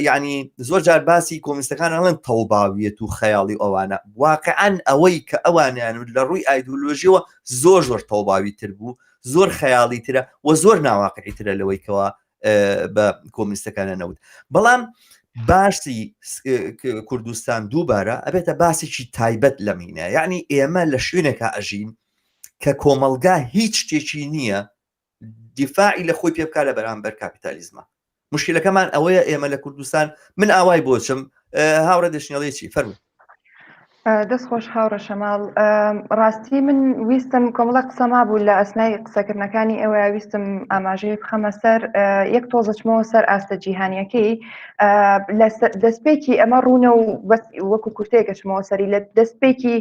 ینی زۆر جار باسی کۆمیستەکان ئەڵێن تەڵباویەت و خەیاڵی ئەوانە واقعان ئەوەی کە ئەوانیان لە ڕووی ئایدولۆژیەوە زۆر زۆر تەڵباوی تر بوو زۆر خەیاڵی ترە و زۆر ناواقعی ترە لەوەیکەوە بە کۆمنیستەکانە نەوت بەڵام باسی کوردستان دووبارە ئەبێتە باسێکی تایبەت لە مینە یعنی ئێمە لە شوێنێکە ئەژین کە کۆمەلگا هیچ شتێکی نییە دیفاعی لە خۆی پێ بکار لە بەرامبەر کاپیتالیزمە مشکلەکەمان ئەوەیە ئێمە لە کوردستان من ئاوای بۆچم هاوڕێ دەشنێڵێکی فەرمو دەست خۆش هاوڕێ شەماڵ ڕاستی من ویستم کۆمەڵە قسە مابوو لە ئەسنای قسەکردنەکانی ئێوە ویستم ئاماژەی بخەمە سەر یەک تۆزەچمەوە سەر ئاستە جیهانیەکەی دەستپێکی ئەمە ڕوونە و وەکو کورتێکەچمەوە سەری لە دەستپێکی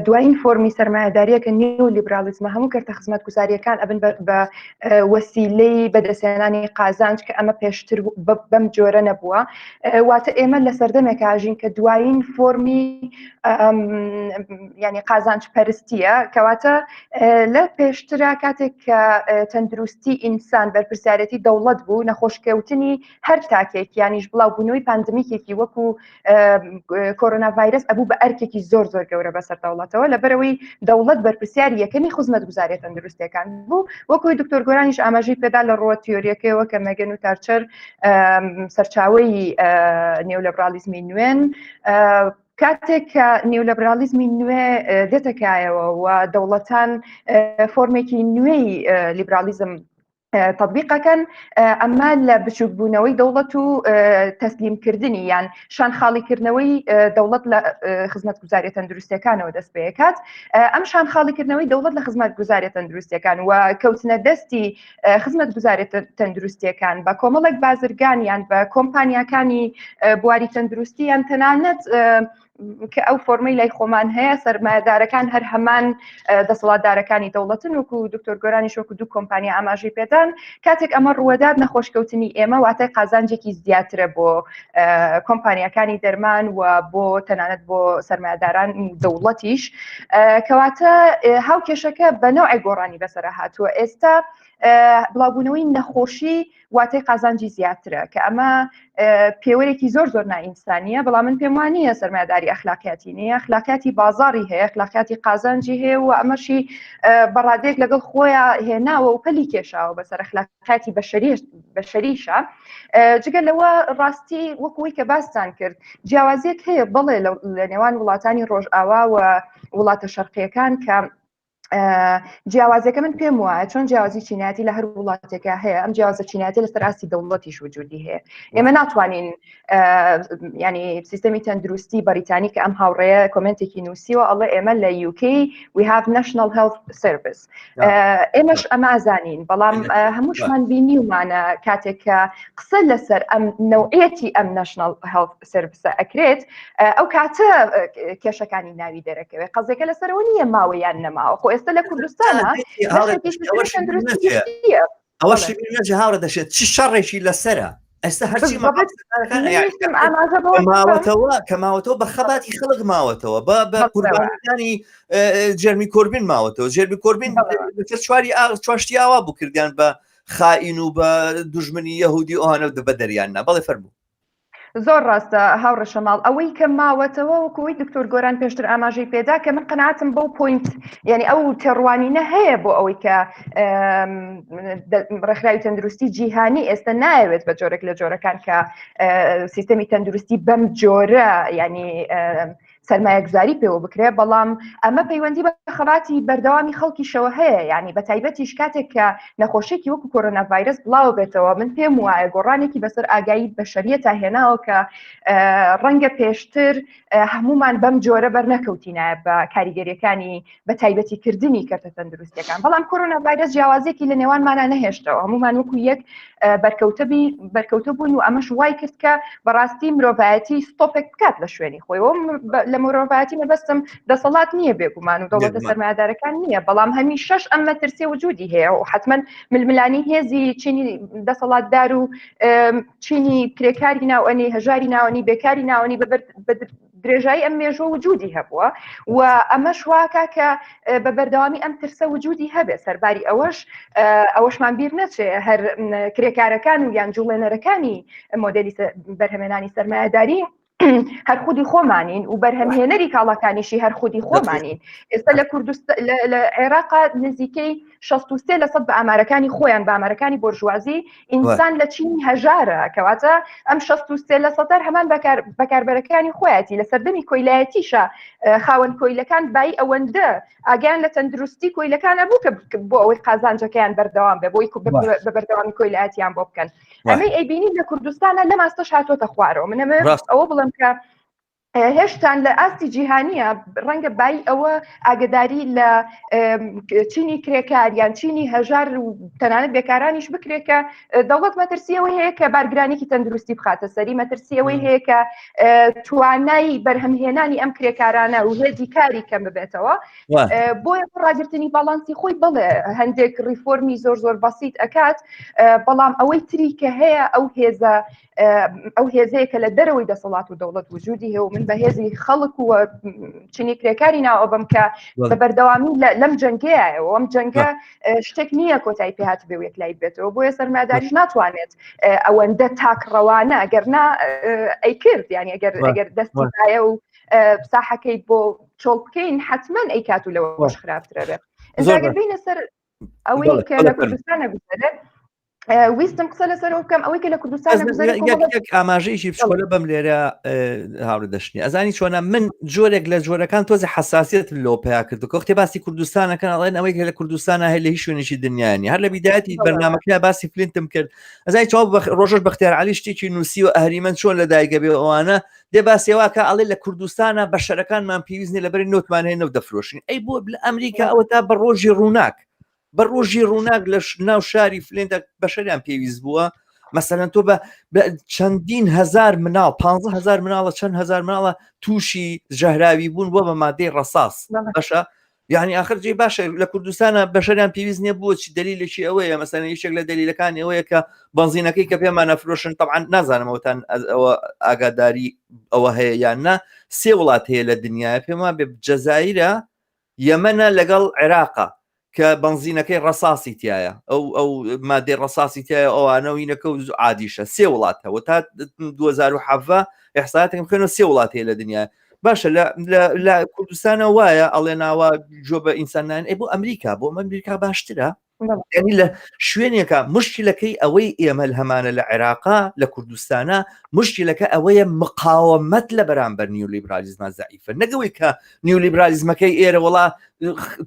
دوایین فۆرمی سرمایهداریەکە نیو لیبرالیزمە هەموو کردە خزمەت گوزاریەکان ئەبن بە وەسیلەی بەدەستێنانی قازانج کە ئەمە پێشتر بەم جۆرە نەبووە واتە ئێمە لە سەردەمێک ئاژین کە دوایین فۆمی ینی قازانج پەرستیە کەواتە لە پێشترا کاتێک کە تەندروستی ئینسان بەرپرسیارەتی دەوڵەت بوو نەخۆشکەوتنی هەر تاکێک یانیش بڵاو بوونەوەی پاندمیکێکی وەکو کۆرۆنا ڤایرس ئەبوو بە ئەرکێکی زۆر زۆر گەورە بەسەر دەوڵەتەوە لە بەرەوەی دەوڵەت بەرپرسیار یەکەمی خزمەت گوزارێت تەندروستەکان بوو وەکوی دکتۆر گۆرانیش ئاماژەی پێدا لە ڕوە تیۆریەکەیەوە کە مەگەن و تارچەر سەرچاوی نێو لە برالیزمی نوێن کاتێک کە نێو لە برالیزمی نوێ دێتەکایەوە و دەوڵەتان فۆرمێکی نوێی لیبرالیزم تطببیقەکەن ئەمە لە بچووکبوونەوەی دەوڵەت و تەسلیمکردنی یان شان خاڵیکردنەوەی دەوڵەت لە خزمەت گوزارە تەندروستەکانەوە دەست پێکات ئەم شان خاڵیکردنەوەی دەوڵەت لە خزمەت گوزارە تەندروستەکان و کەوتنە دەستی خزمەت گوزارێت تەندروستیەکان بە کۆمەڵک بازرگانیان بە کۆمپانیاکانی بواری تەندروستی یان تەنانەت کە ئەو فۆرمەی لای خۆمان هەیە سەرمایهدارەکان هەر هەمان دەسەڵاتدارەکانی دەوڵەتن وکو و دکتۆر گۆرانی شۆک و دوو کۆمپانیا ئاماژی پێدان کاتێک ئەمە ڕوەدات نەخۆشکەوتنی ئێمە واتای قازانجێکی زیاترە بۆ کۆمپانیەکانی دەرمان و بۆ تەنانەت بۆ سەرمایداران دەوڵەتیش کەواتە هاو کێشەکە بەنەوەی گۆڕانی بەسرە هاتووە ئێستا بڵاوبوونەوەی نەخۆشی واتای قازانجی زیاترە کە ئەمە پێوەرێکی زۆر زۆر نائینسانیە بەڵام من پێم وانە سەرمایداری ئەخلاقیاتی نیە ئەخلاقیاتی بازاری هەیە ئەخلاقیاتی قازانجی هەیە و ئەمەشی بەڕادێک لەگەڵ خۆیان هێناوە و پەلی کێشاوە بەسەر ئەخلاق کاتی بەشەریشە جگە لەوە ڕاستی وەکوی کە باستان کرد جیاوازیەک هەیە بەڵێ لە نێوان وڵاتانی ڕۆژئاوا و وڵاتە شەرقیەکان کە جیاوازەکە من پێم وایە چۆن جیازی چیناتی لە هەر وڵاتێکە هەیە ئەم جیازە چیناتی لە سەراستی دەوڵەتیش وجودی هەیە ئێمە ناتوانین ینی سیستمی تەندروستی بەریتانی کە ئەم هاوڕێە کمنتێکی نووسیوە ئەڵە ئێمە لە یوکی we have national health service ئێمەش ئەمازانین بەڵام هەمووشمان بینی ومانە کاتێک کە قسە لەسەر ئەم نەوعەتی ئەم نشنل هەڵ سرویسە ئەکرێت ئەو کاتە کێشەکانی ناوی دەرەکەوێت قەزێکە لەسەرەوە نیە ماوەیان نەماوە خۆ ئێستا لە کوردستانە ئەوە شێژە هاوڕە دەشێت چ شەڕێکی لەسرە ئێستا هەرچی ماوەتەوە کە ماوەتەوە بە خەباتی خەڵک ماوەتەوە بە بە قوربانەکانی جەرمی کۆربین ماوەتەوە جێرمی کۆربین چواری ئاغ چواشتی ئاوا بوو کردیان بە خائین و بە دژمنی یهودی ئەوانە دە بە دەریاننا بەڵێ فەرموو زۆر ڕاستە هاوڕێ شەماڵ ئەوەی کە ماوەتەوە وەکەوەی دکتۆر گۆران پێشتر ئاماژەی پێدا کە من قەناتم بەو پوینت یعنی ئەو تێڕوانینە هەیە بۆ ئەوەی کە ڕێکخراوی تەندروستی جیهانی ئێستا نایەوێت بە جۆرێک لە جۆرەکان کە سیستەمی تەندروستی بەم جۆرە ینی سەرمایەگوزاری پێوە بکرێ بەڵام ئەمە پەیوەندی بە خەباتی بەردەوامی خەڵکیشەوە هەیە ینی بە تایبەتیش کاتێک کە نەخۆشێکی وەکو کۆرۆنا ڤایرس بڵاو بێتەوە من پێم وایە گۆڕانێکی بەسەر ئاگایی بەشریە تا هێناوە کە ڕەنگە پێشتر هەمومان بەم جۆرە بەرنەکەوتینە بە کاریگەریەکانی بە تایبەتی کردنی کەرتە تەندروستەکان بەڵام کۆرۆنا ڤایرس جیاوازێکی لە نێوانمانە نەهێشتەوە هەمومان وەکو یەک بەرکەوتەبی بەرکەوتە بوون و ئەمەش وای کرد کە بەڕاستی مرۆڤایەتی ستۆپێک بکات لە شوێنی خۆی لە مرۆڤایەتی مەبەستم دەسەڵات نییە بێگومان و دەوڵەتە سەرمایدارەکان نییە بەڵام هەمی شەش ئەم مەترسێ وجودی هەیە و حتمما ململانی هێزی چینی دەسەڵاتدار و چینی کرێکاری ناوەنی هەژاری ناوەنی بێکاری ناوەنی بەبەر درێژایی ئەم مێژوە وجودی هەبووە و ئەمەش واکە کە بە بەردەوامی ئەم ترسە وجودی هەبێ سەرباری ئەوەش ئەوەشمان بیر نەچێ هەر کرێکارەکان و یان جوڵێنەرەکانی مۆدلی بەرهەمێنانی سەرمایهداری هەر خودی خۆمانین و بەرهەمهێنەری کاڵاکانیشی هەر خودی خۆمانین ئێستا لە کوردست لە عێراقا نزیکەی 63 لە سەد بە ئامارەکانی خۆیان بامەرەکانی بۆرژوازی ئینسان لە چینی هەژارە کەواتە ئەم 63 لە سەدار هەمان بەکاربەرەکانی خۆیەتی لە سەردەمی کۆیلایەتیشە خاوەن کۆیلەکان بای ئەوەندە ئاگیان لە تەندروستی کۆیلەکانە بوو کە بۆ ئەوەی قازانجەکەیان بەردەوام بێ بۆی بە بەردەوامی کۆیلایەتیان بۆ بکەن ئەمەی ئەیبینی لە کوردستانە لە ماستەش هاتۆتە خوارەوە منەمە ئەوە بڵم کە هێشتان لە ئاستی جیهانیە ڕەنگە بای ئەوە ئاگداری لە چینی کرێکار یان چینی هەژار و تەنانەت بێکارانیش بکرێکە دەوڵەت مەترسیەوەی هەیە کە بارگرانێکی تەندروستی بخاتە سەری مەترسیەوەی هەیە کە توانای بەرهەمهێنانی ئەم کرێکارانە و هێزی کاری کەم ببێتەوە بۆ ڕاگررتنی باڵانسی خۆی بڵێ هەندێک ریفۆرمی زۆر زۆر بەسییت ئەکات بەڵام ئەوەی تری کە هەیە ئەو هێزە ئەو هێزەیە کە لە دەرەوەی دەسەڵات و دەوڵەت وجودی هەیە و من بە هێزی خەڵک و چنی کرێکاری ناوە بم کە بە بەردەوامی لەم جەنگەیەوە ئەم جەنگە شتێک نییە کۆتایی پێهات بێ وێک لای بێتەوە بۆیە سەرماداریش ناتوانێت ئەوەندە تاک ڕەوانە ئەگەر نا ئەیکرد یانی ئەگەر ئەگەر دەستایە و ساحەکەی بۆ چۆڵ بکەین حتمما ئەی کات و لەوەش خراپترە بێت ئەگەر بینە سەر ئەوەی کە لە کوردستانە بگەرێت ویستم قسە لەسەر بکەم ئەوەی کە لە کوردستان ئاماژەیەکی بچۆلە بەم لێرە هاوڕ دەشتنی ئەزانی چۆنە من جۆرێک لە جۆرەکان تۆزی حساسیت لۆ پیا کرد کۆختی باسی کوردستانەکەن ئەڵێن ئەوەی کە لە کوردستانە هەیە لە هیچ شوێنێکی دنیاانی هەر لە بیداەتی بەرنمەکە باسی فلینتم کرد ئەزای چاو ڕۆژش بەختیار علی شتێکی نووسی و ئەهریمەن چۆن لە دایگە بێ ئەوانە دێ باسێواکە ئەڵێ لە کوردستانە بە شەرەکانمان پێویستنی لەبەری نوتمان هەیە نەو دەفرۆشین ئەی بۆ لە ئەمریکا ئەوە تا بە ڕۆژی ڕووناک بە ڕۆژی ڕووناک لە ناو شاری فلێندە بەشەریان پێویست بووە مەسەەن تۆ بە چەندین هزار مناڵ 15 هزار مناڵە چەند هزار مناڵە تووشی ژەهراوی بوون بۆ بە مادەی ڕساس بەشە یعنی آخر جێ باشە لە کوردستانە بەشەریان پێویست نیە بۆ چی دلیلێکی ئەوەیە مەسەن یشێک لە دلیلەکان ئەوەیە کە بەنزینەکەی کە پێمانە فرۆشن تەعاان نازانمەوەتان ئەوە ئاگاداری ئەوە هەیە یان نا سێ وڵات هەیە لە دنیاە پێما بێ جەزایرە یەمەنە لەگەڵ عێراقە کە بەنزینەکەی ڕەساسی تایە ئەو ئەو مادەی ڕەساسی تایە ئەوانە و یینەکە و عادیشە سێ وڵات هەوە تا 2010 ئەحساتم خوێنە سێ وڵات هەیە لە دنیا باشە لە کوردستانە وایە ئەڵێ ناوە جۆ بە ئینسانان ئەی بۆ ئەمریکا بۆ ئەمریکا باشترە ینی لە شوێنێکە مشکلەکەی ئەوەی ئێمە هەمانە لە عێراقا لە کوردستانە مشکلەکە ئەوەیە مقاومەت لە بەرامبەر نیولیبرالیزما زعیفە نەگەوەی کە نیولیبرالیزمەکەی ئێرە وڵا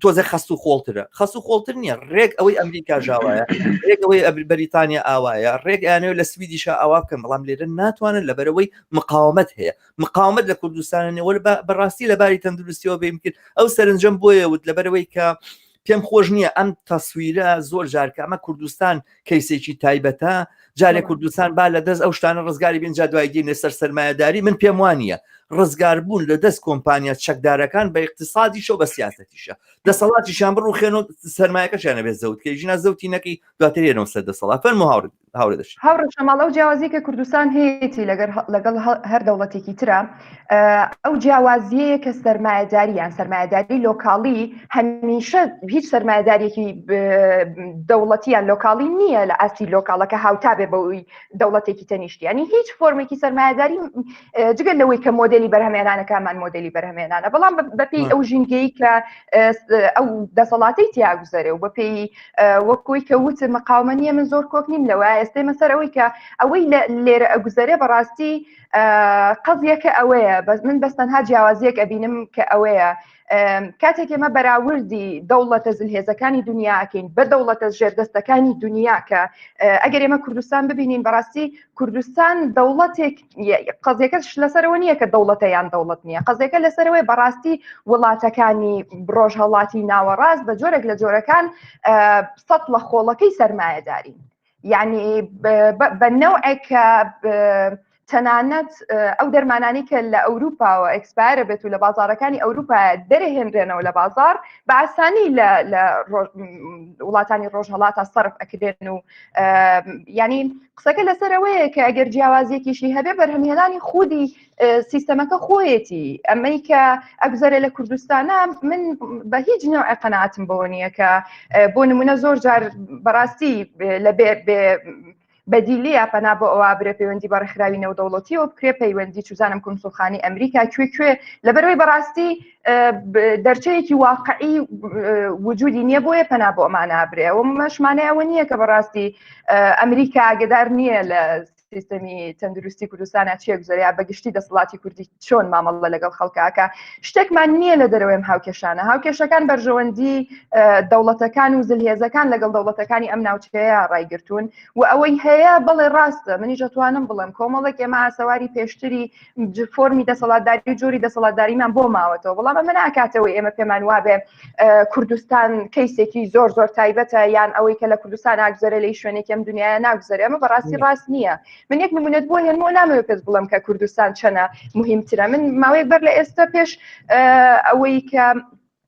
تۆزە خەست و خۆڵترە خەست و خۆڵتر نییە ڕێک ئەوەی ئەمریکا ژاوایە ڕێک ئەوەی ئەبری بەریتانیا ئاوایە ڕێک ئەیانەوە لە سویدیشە ئاوا بکەن بەڵام لێرە ناتوانن لەبەرەوەی مقاومت هەیە مقاومت لە کوردستانە نێوە بەڕاستی لەباری تەندروستیەوە بیم کرد ئەو سەرنجەم بۆیە وت لەبەرەوەی کە پێم خۆش نییە ئەم تەسویرە زۆر جارکە ئەمە کوردستان کەیسێکی تایبەتە جارێک کوردستان با لە دەست ئەو شتانە ڕزگاری بینجا دوای دینێ سەر سەرمایهداری من پێم وانە ڕزگار بوون لە دەست کۆمپانیا چەکدارەکان بە اقتصادی شەو بە سیاستیشە دەسەڵاتیشان بڕوخێن و سەرمایەکەشانە بێ زەوتکە ژنا زەوتی نەکەی دواترێنەوە سەر دەسەڵات فەرمو هاوڕێ هاورێ دەشت هاوڕێ شەماڵ ئەو جیاوازی کە کوردستان هەیەی لەگەر لەگەڵ هەر دەوڵەتێکی ترە ئەو جیاوازیەیە کە سەرمایهداریان سەرمایهداری لۆکاڵی هەمیشە هیچ سەرمایهدارێکی دەوڵەتیان لۆکاڵی نییە لە ئاستی لۆکاڵەکە هاوتابێ بەوەی دەوڵەتێکی تەنیشتیانی هیچ فۆرمێکی سەرمایهداری جگە لەوەی کە مۆدلی بەرهەمێنانەکەمان مۆدلی بەرهەمێنانە بەڵام بەپی ئەو ژینگەی کە ئەو دەسەڵاتی تیاگوزەرێ و بەپی وەکوی کە وت مقاومە نیە من زۆر کۆک نیم لەوە ئێستێمە سەر ئەوەی کە ئەوەی لێرە ئەگوزەرێ بەڕاستی قەزیەکە ئەوەیە بەس من بەس تەنها جیاوازیەک ئەبینم کە ئەوەیە کاتێک ئێمە بەراوردی دەوڵەتە زلهێزەکانی دنیاکەین بە دەوڵەتە ژێردەستەکانی دنیا کە ئەگەر ئێمە کوردستان ببینین بەڕاستی کوردستان دەوڵەتێک قەزیەکەش لەسەرەوە نییە کە دەوڵەتە یان دەوڵەت نییە قەزیەکە لەسەرەوەی بەڕاستی وڵاتەکانی ڕۆژ هەڵاتی ناوەڕاست بە جۆرێک لە جۆرەکان سەد لە خۆڵەکەی سەرمایەداری یعنی بە نەوعێک کە تەنانەت ئەو دەرمانانی کە لە ئەوروپاوە ئەکسپایرە بێت و لە بازارەکانی ئەوروپا دەرهێنرێنەوە لە بازار باسانی لە وڵاتانی ڕۆژهڵاتە سرف ئەکرێن و ینی قسەکە لەسەرەوەیە کە ئەگەر جیاوازیەکیشی هەبێ بەرهەمهێنانی خودی سیستەمەکە خۆیەتی ئەمەی کە ئەگوزارێ لە کوردستانە من بە هیچ نوع قەناتم بۆ نییە کە بۆ نمونە زۆر جار بەڕاستی لە بێ بەدیلی یا پەنا بۆ ئەوە برێ پەیوەندی بە ڕێکخراوی نێودەوڵەتیەوە بکرێ پەیوەندی چزانم کنسوخانی ئەمریکا کوێ کوێ لەبەرەوەی بەڕاستی دەرچەیەکی واقعی وجودی نییە بۆیە پەنا بۆ ئەمان نابرێ و مەشمانەیەوە نییە کە بەڕاستی ئەمریکا ئاگدار نییە لە سیستەمی تەندروستی کوردستانە چێک زەریا بەگشتی دەسەڵاتی کوردی چۆن مامەڵە لەگەڵ خەڵکاکە شتێکمان نییە لە دەرەوەم هاوکێشانە هاوکێشەکان بەرژەوەندی دەوڵەتەکان و زلهێزەکان لەگەڵ دەوڵەتەکانی ئەم ناوچەیە ڕایگرتوون و ئەوەی هەیە بەڵێ ڕاستە منیش دەتوانم بڵم کۆمەڵێک ئێمە ئاسەواری پێشتری فۆرمی دەسەڵاتداری و جۆری دەسەڵاتداریمان بۆ ماوەتەوە بەڵام ئەمە ناکاتەوەی ئێمە پێمان وابێ کوردستان کەیسێکی زۆر زۆر تایبەتە یان ئەوەی کە لە کوردستان ئاگزەرە لی شوێنێکم دنیا ناگوزەر ئەمە بەڕاستی ڕاست نییە من یەک نمونەت بۆ هێنمەوە نامەوە پێت بڵم کە کوردستان چەنە مهمترە من ماوەیەک بەر لە ئێستا پێش ئەوەی کە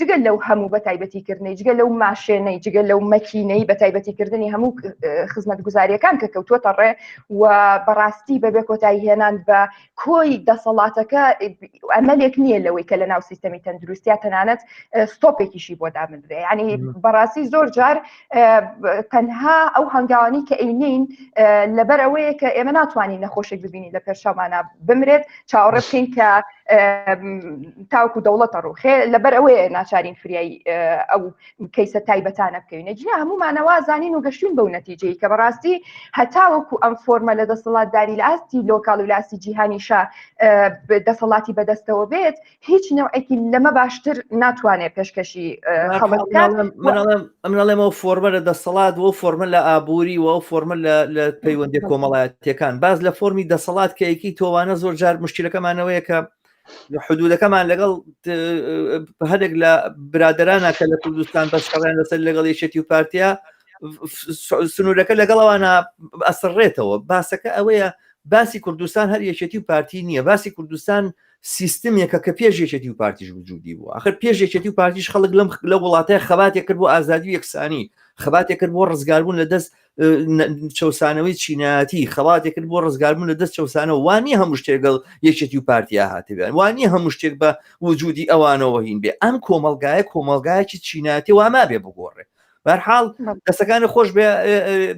جگە لەو هەموو بە تایبەتیکردنەی جگە لەو ماشێنەی جگە لەو مەکینەی بە تایبەتیکردنی هەموو خزمەت گوزاریەکان کە کەوتوتە ڕێ و بەڕاستی بەبێ کۆتایی هێنان بە کۆی دەسەڵاتەکە ئەمەلێک نییە لەوەی کە لە ناو سیستەمی تەندروستیا تەنانەت ستۆپێکیشی بۆ دابنرێ ینی بەڕاستی زۆر جار تەنها ئەو هەنگاوانی کە ئەینین لەبەر ئەوەیە کە ئێمە ناتوانین نەخۆشێک ببینی لە پێشەمانە بمرێت چاوەڕێ بکەین کە تاوکو دەوڵەتە ڕوخێ لەبەر ئەوەیە ناچارین فریایی ئەو کەیسە تایبەتانە بکەوینە جیا هەمومانەوە زانین و گەشتون بەو نەتیجەی کە بەڕاستی هەتاوەکو ئەم فۆرمە لە دەسەڵاتداری لاستی لۆکال و لاسی جیهانیشە دەسەڵاتی بەدەستەوە بێت هیچ نوعێکی لەمە باشتر ناتوانێت پێشکەشی ئەمناڵێمەوە فۆرمە لە دەسەڵات و فۆرمە لە ئابووری و فۆرمە لە پەیوەندی کۆمەڵایەتەکان باز لە فۆرمی دەسەڵات کەیەکی تۆوانە زۆر جار مشکلەکەمانەوەیە کە حدودەکەمان لەگەڵ هەندێک لە برادرانە کە لە کوردستان بەشکەڵیان لەسەر لەگەڵ یەکێتی و پارتیا سنوورەکە لەگەڵەوانە ئەسڕێتەوە باسەکە ئەوەیە باسی کوردستان هەر یەکێتی و پارتی نییە باسی کوردستان سیستمێکە کە پێش یەکێتی و پارتیش وجودی بوو ئەخر پێش یەکێتی و پارتیش خەڵک لەم لە وڵاتای خەباتێک کرد بۆ ئازادی و یەکسانی خەباتێک کرد بۆ ڕزگاربوون لە دەست چەسانەوەی چینایەتی خەڵاتێک کرد بۆ ڕزگاربوون لە دەست چەسانەوە وانی هەموو شتێگەڵ یەکێتی و پارتیا هاتبێن وانی هەموو شتێک بە وجودی ئەوانەوە هین بێ ئەم کۆمەلگایە کۆمەلگایکی چینایەتی وامابێ بگۆڕێ بەرحاڵ دەستەکانی خۆش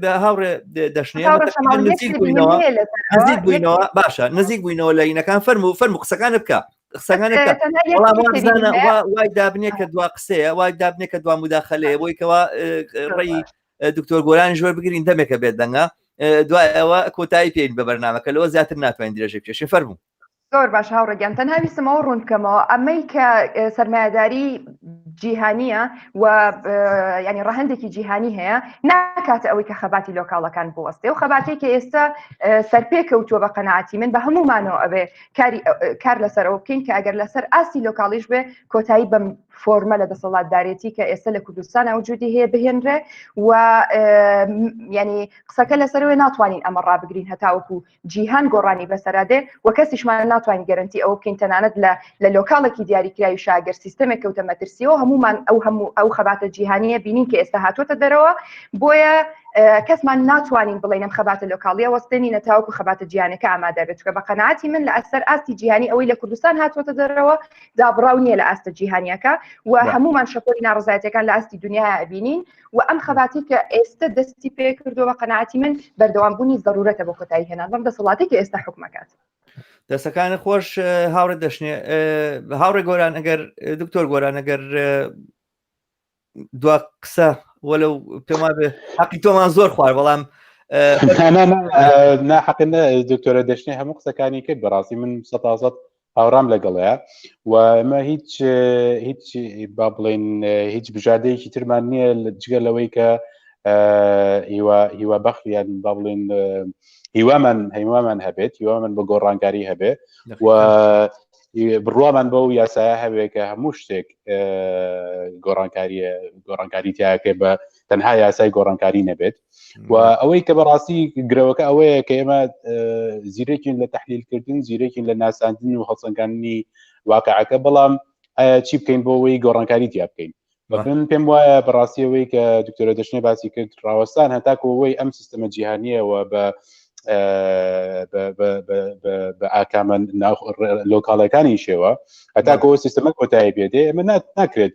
بە هاوڕێ دەشنێنەوە نزیک بووینەوە باشە نزیک بووینەوە لە ینەکان فەرم و فەرم قسەکانە بکە قسەکانە وای دابنێ کە دوا قسەیە وای دابنێ کە دوا مداخلەیە بۆی کەەوە ڕێی دکتۆر گۆرانی ژۆر بگرین دەمێکە بێت دەنگە دوای ئەوە کۆتایی پێین بە بەرنمەکە لەوە زیاتر ناتوانین درێژە پێشی فەرموو زۆر باش هاوڕێ گیان تەنها ویستم ئەوە ڕوون بکەمەوە ئەمەی کە سەرمایهداری جیهانیە و ینی ڕەهندێکی جیهانی هەیە ناکاتە ئەوەی کە خەباتی لۆکاڵەکان بوەستێ و خەباتی کە ئێستا سەرپێ کەوتووە بە قەنەعاتی من بە هەمومانەوە ئەبێ کاری کار لەسەر ئەو بکەین کە ئەگەر لەسەر ئاستی لۆکاڵیش بێ کۆتایی بەم فۆرمە لە دەسەڵاتدارێتی کە ئێستا لە کوردستان ئەوجودی هەیە بهێنرێ و ینی قسەکە لەسەروێ ناتوانین ئەمە ڕابگرین هەتاوەکو جیهان گۆڕانی بەسەرا دێ و کەسیشمان ناتوانین گەرەنتی ئەوە بکەین تەنانەت لە لە لۆکاڵێکی دیاریکراوی شاگەر سیستەمێک کەوتە مەترسیەوە هەمومان ئەو هەموو ئەو خەباتە جیهانیە بینین کە ئێستا هاتووەتە دەرەوە بۆیە کەسمان ناتوانین بڵێنم خەباتە لۆکاڵیە وەستێنی نەتاوکو خەباتە جیانەکە ئامادە بێت چکە بە قەنەعاتی من لە ئەسەر ئاستی جیهانی ئەوەی لە کوردستان هاتووەتە دەرەوە دابڕاو نییە لە ئاستە جیهانیەکە و هەمومان شەپۆلی ناڕزایەتەکان لە ئاستی دنیا بینین و ئەم خەباتی کە ئێستا دەستی پێ کردو بە قەنەعاتی من بەردەوام بوونی زەرورەتە بۆ کۆتایی هێنان بەم دەسەڵاتی کە ئێستا حکومەکات دەسەکانی خۆش هاوڕێ دەشنێ هاوڕێ گۆران ئەگەر دکتۆر گۆران ئەگەر دو قسە وەلو پێما بێ حقی تۆمان زۆر خوار بەڵام ناحقن دکتۆرە دەشتێ هەموو قسەکانی کرد بەڕاستی من سەتازت هاوڕام لەگەڵەیە و ئەمە هیچ هیچ با بڵێن هیچ بژادەیەکی ترمان نییە لە جگە لەوەی کە هیوا هیوا بەخیان با بڵێن هیوامان هەیوامان هەبێت هیوامان بە گۆڕانگاری هەبێ و بڕوامان بەو یاسایە هەبێ کە هەموو شتێک گۆڕانکاریە گۆڕانکاری تیاکە بە تەنها یاسای گۆڕانکاری نەبێت و ئەوەی کە بەڕاستی گرەوەکە ئەوەیە کە ئێمە زیرەکین لە تحلیلکردن زیرەکین لە ناساندن و هەڵسەنگاننی واقعەکە بەڵام ئایا چی بکەین بۆ ئەوەی گۆڕانکاری تیا بکەین من پێم وایە بەڕاستیەوەی کە دکتۆرە دەشنێ باسی کرد ڕاوەستان هەتاکۆەوەی ئەم سیستەمە جیهانیەوە بە بە ئاکامە لۆکاڵەکانی شێوە هەتاکەەوە سیستەمە کۆتایی پێدێ ئەمە ناکرێت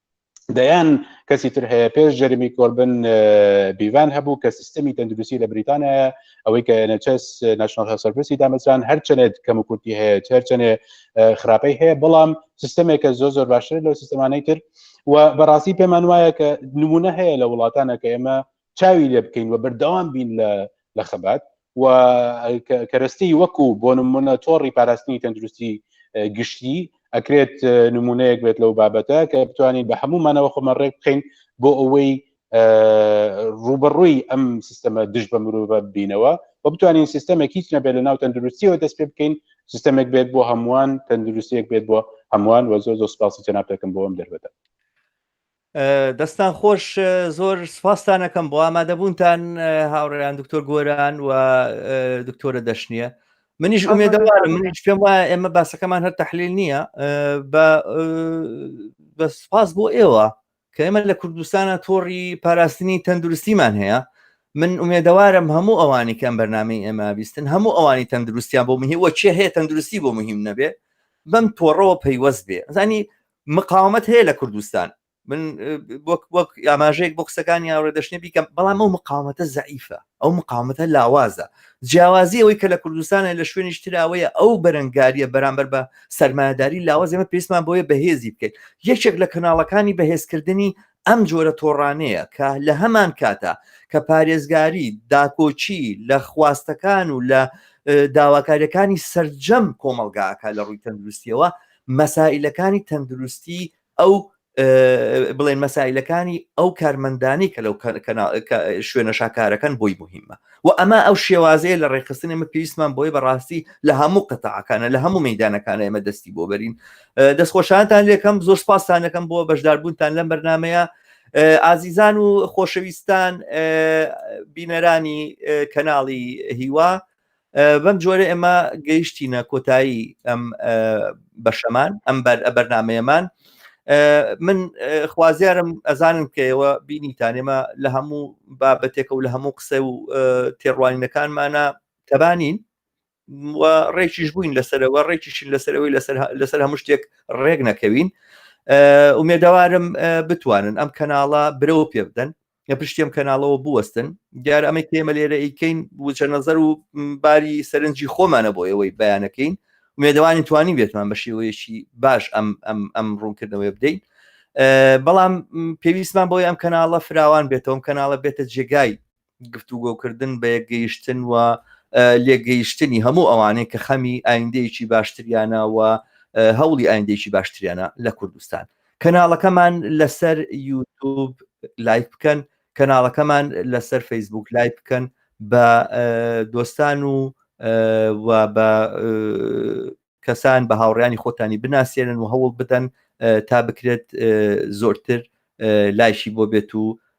دەیان کەسی تر هەیە پێش جەرمی کۆربن بیڤان هەبوو کە سیستمی تەندروستی لە بریتانایە ئەوەی کە نەچەس نشنال هەسەرپرسی دامەزران هەرچەنێت کەم و کورتی هەیە هەرچەنێ خراپەی هەیە بەڵام سیستمێکە زۆ زۆر باشتر لەو سیستمانەی تر و بەڕاستی پێمان وایە کە نمونە هەیە لە وڵاتانە کە ئێمە چاوی لێ بکەین و بەردەوام بین لە لە خەبات و کەرەستی وەکو بۆ نمونە تۆڕی پاراستنی تەندروستی گشتی ئەکرێت نمونەیەک بێت لەو بابەتە کە بتوانین بە هەموومانەوە خۆمە ڕێک بخین بۆ ئەوەی ڕوبەڕووی ئەم سیستەمە دژ بە مرۆڤە بینەوە و بتوانین سیستەمێک هیچ نەبێت لە ناو تەندروستیەوە دەست پێ بکەین سیستەمێک بێت بۆ هەمووان تەندروستیەک بێت بۆ هەمووان وە زۆر زۆر سپاسی جەناب دەکەم بۆ ئەم دەربەتە دەستان خۆش زۆر سپاستانەکەم بۆ ئامادەبوونتان هاوڕێیان دکتۆر گۆران و دکتۆرە دەشنیە منیش ئومێدەوارم منیش پێم وایە ئێمە باسەکەمان هەر تحلیل نییە بە سپاس بۆ ئێوە کە ئێمە لە کوردستانە تۆڕی پاراستنی تەندروستیمان هەیە من ئومێدەوارم هەموو ئەوانی کەم بەرنمەی ئێمە بیستن هەموو ئەوانی تەندروستیان بۆ مهی وەچێ هەیە تەندروستی بۆ مهم نەبێ بەم تۆڕەوە پەیوەست بێ زانی مقاومت هەیە لە کوردستان من وەک وەک ئاماژەیەک بۆ قسەکانی یاڕێ دەشتێ بیکەم بەڵام ئەو مقاومەتە زعیفە ئەو مقاومەتە لاوازە جیاوازی ئەوەی کە لە کوردستانە لە شوێنیش تراوەیە ئەو بەرەنگاریە بەرامبەر بە سەرمایهداری لاواز ئێمە پێستمان بۆیە بەهێزی بکەیت یەکێک لە کەناڵەکانی بەهێزکردنی ئەم جۆرە تۆڕانەیە کە لە هەمان کاتە کە پارێزگاری داکۆچی لە خواستەکان و لە داواکاریەکانی سرجەم کۆمەلگاکە لە ڕووی تەندروستیەوە مەسائلەکانی تەندروستی ئەو بڵێن مەسائلەکانی ئەو کارمەندانی کە لەو شوێنە شاکارەکەن بۆی مهمە و ئەمە ئەو شێوازەیە لە ڕێخستن ئمە پێویستمان بۆی بەڕاستی لە هەموو قەتەعەکانە لە هەموو مەدانەکان ئێمە دەستی بۆ بەرین دەستخۆشانتان لێکەم زۆر سپاسانەکەم بۆ بەشداربوونتان لەم بەرنمەیە ئازیزان و خۆشەویستان بینەرانی کەناڵی هیوا بەم جۆرە ئێمە گەیشتینە کۆتایی ئەم بەشەمان ئەم بەرنمەیەمان من خوازیارم ئەزانم کەەوە بینیتانێمە لە هەموو بابەتێکە و لە هەموو قسە و تێڕوانینەکانمانە تەبانین و ڕێکیش بووین لەسەرەوە ڕێکیشین لەسەرەوەی لەسەر هەموو شتێک ڕێک نەکەوین ئومێدەوارم بتوانن ئەم کەناڵە برەوە پێ بدەن لە پشتی ئەم کەناڵەوە بوەستن دیار ئەمە کێمە لێرە ئیکەین وچە نەزەر و باری سەرنجی خۆمانە بۆ ئێوەی بیانەکەین ومێدەوانی توانی بێتمان بە شێوەیەکی باش ئەم ئەم ئەم ڕوونکردنەوەی بدەین بەڵام پێویستمان بۆی ئەم کەناڵە فراوان بێتەوەم کەناڵە بێتە جێگای گفتوگۆکردن بە یەکگەیشتن و لێگەیشتنی هەموو ئەوانەیە کە خەمی ئایندەیەکی باشتریانە و هەوڵی ئایندێکی باشتریانە لە کوردستان کەناڵەکەمان لەسەر یوتوب لایک بکەن کەناڵەکەمان لەسەر فەیسبوک لای بکەن بە دۆستان و و بە کەسان بە هاوڕیانی خۆتانی بناسیێنن و هەوڵ بدەن تا بکرێت زۆرتر لایشی بۆ بێت و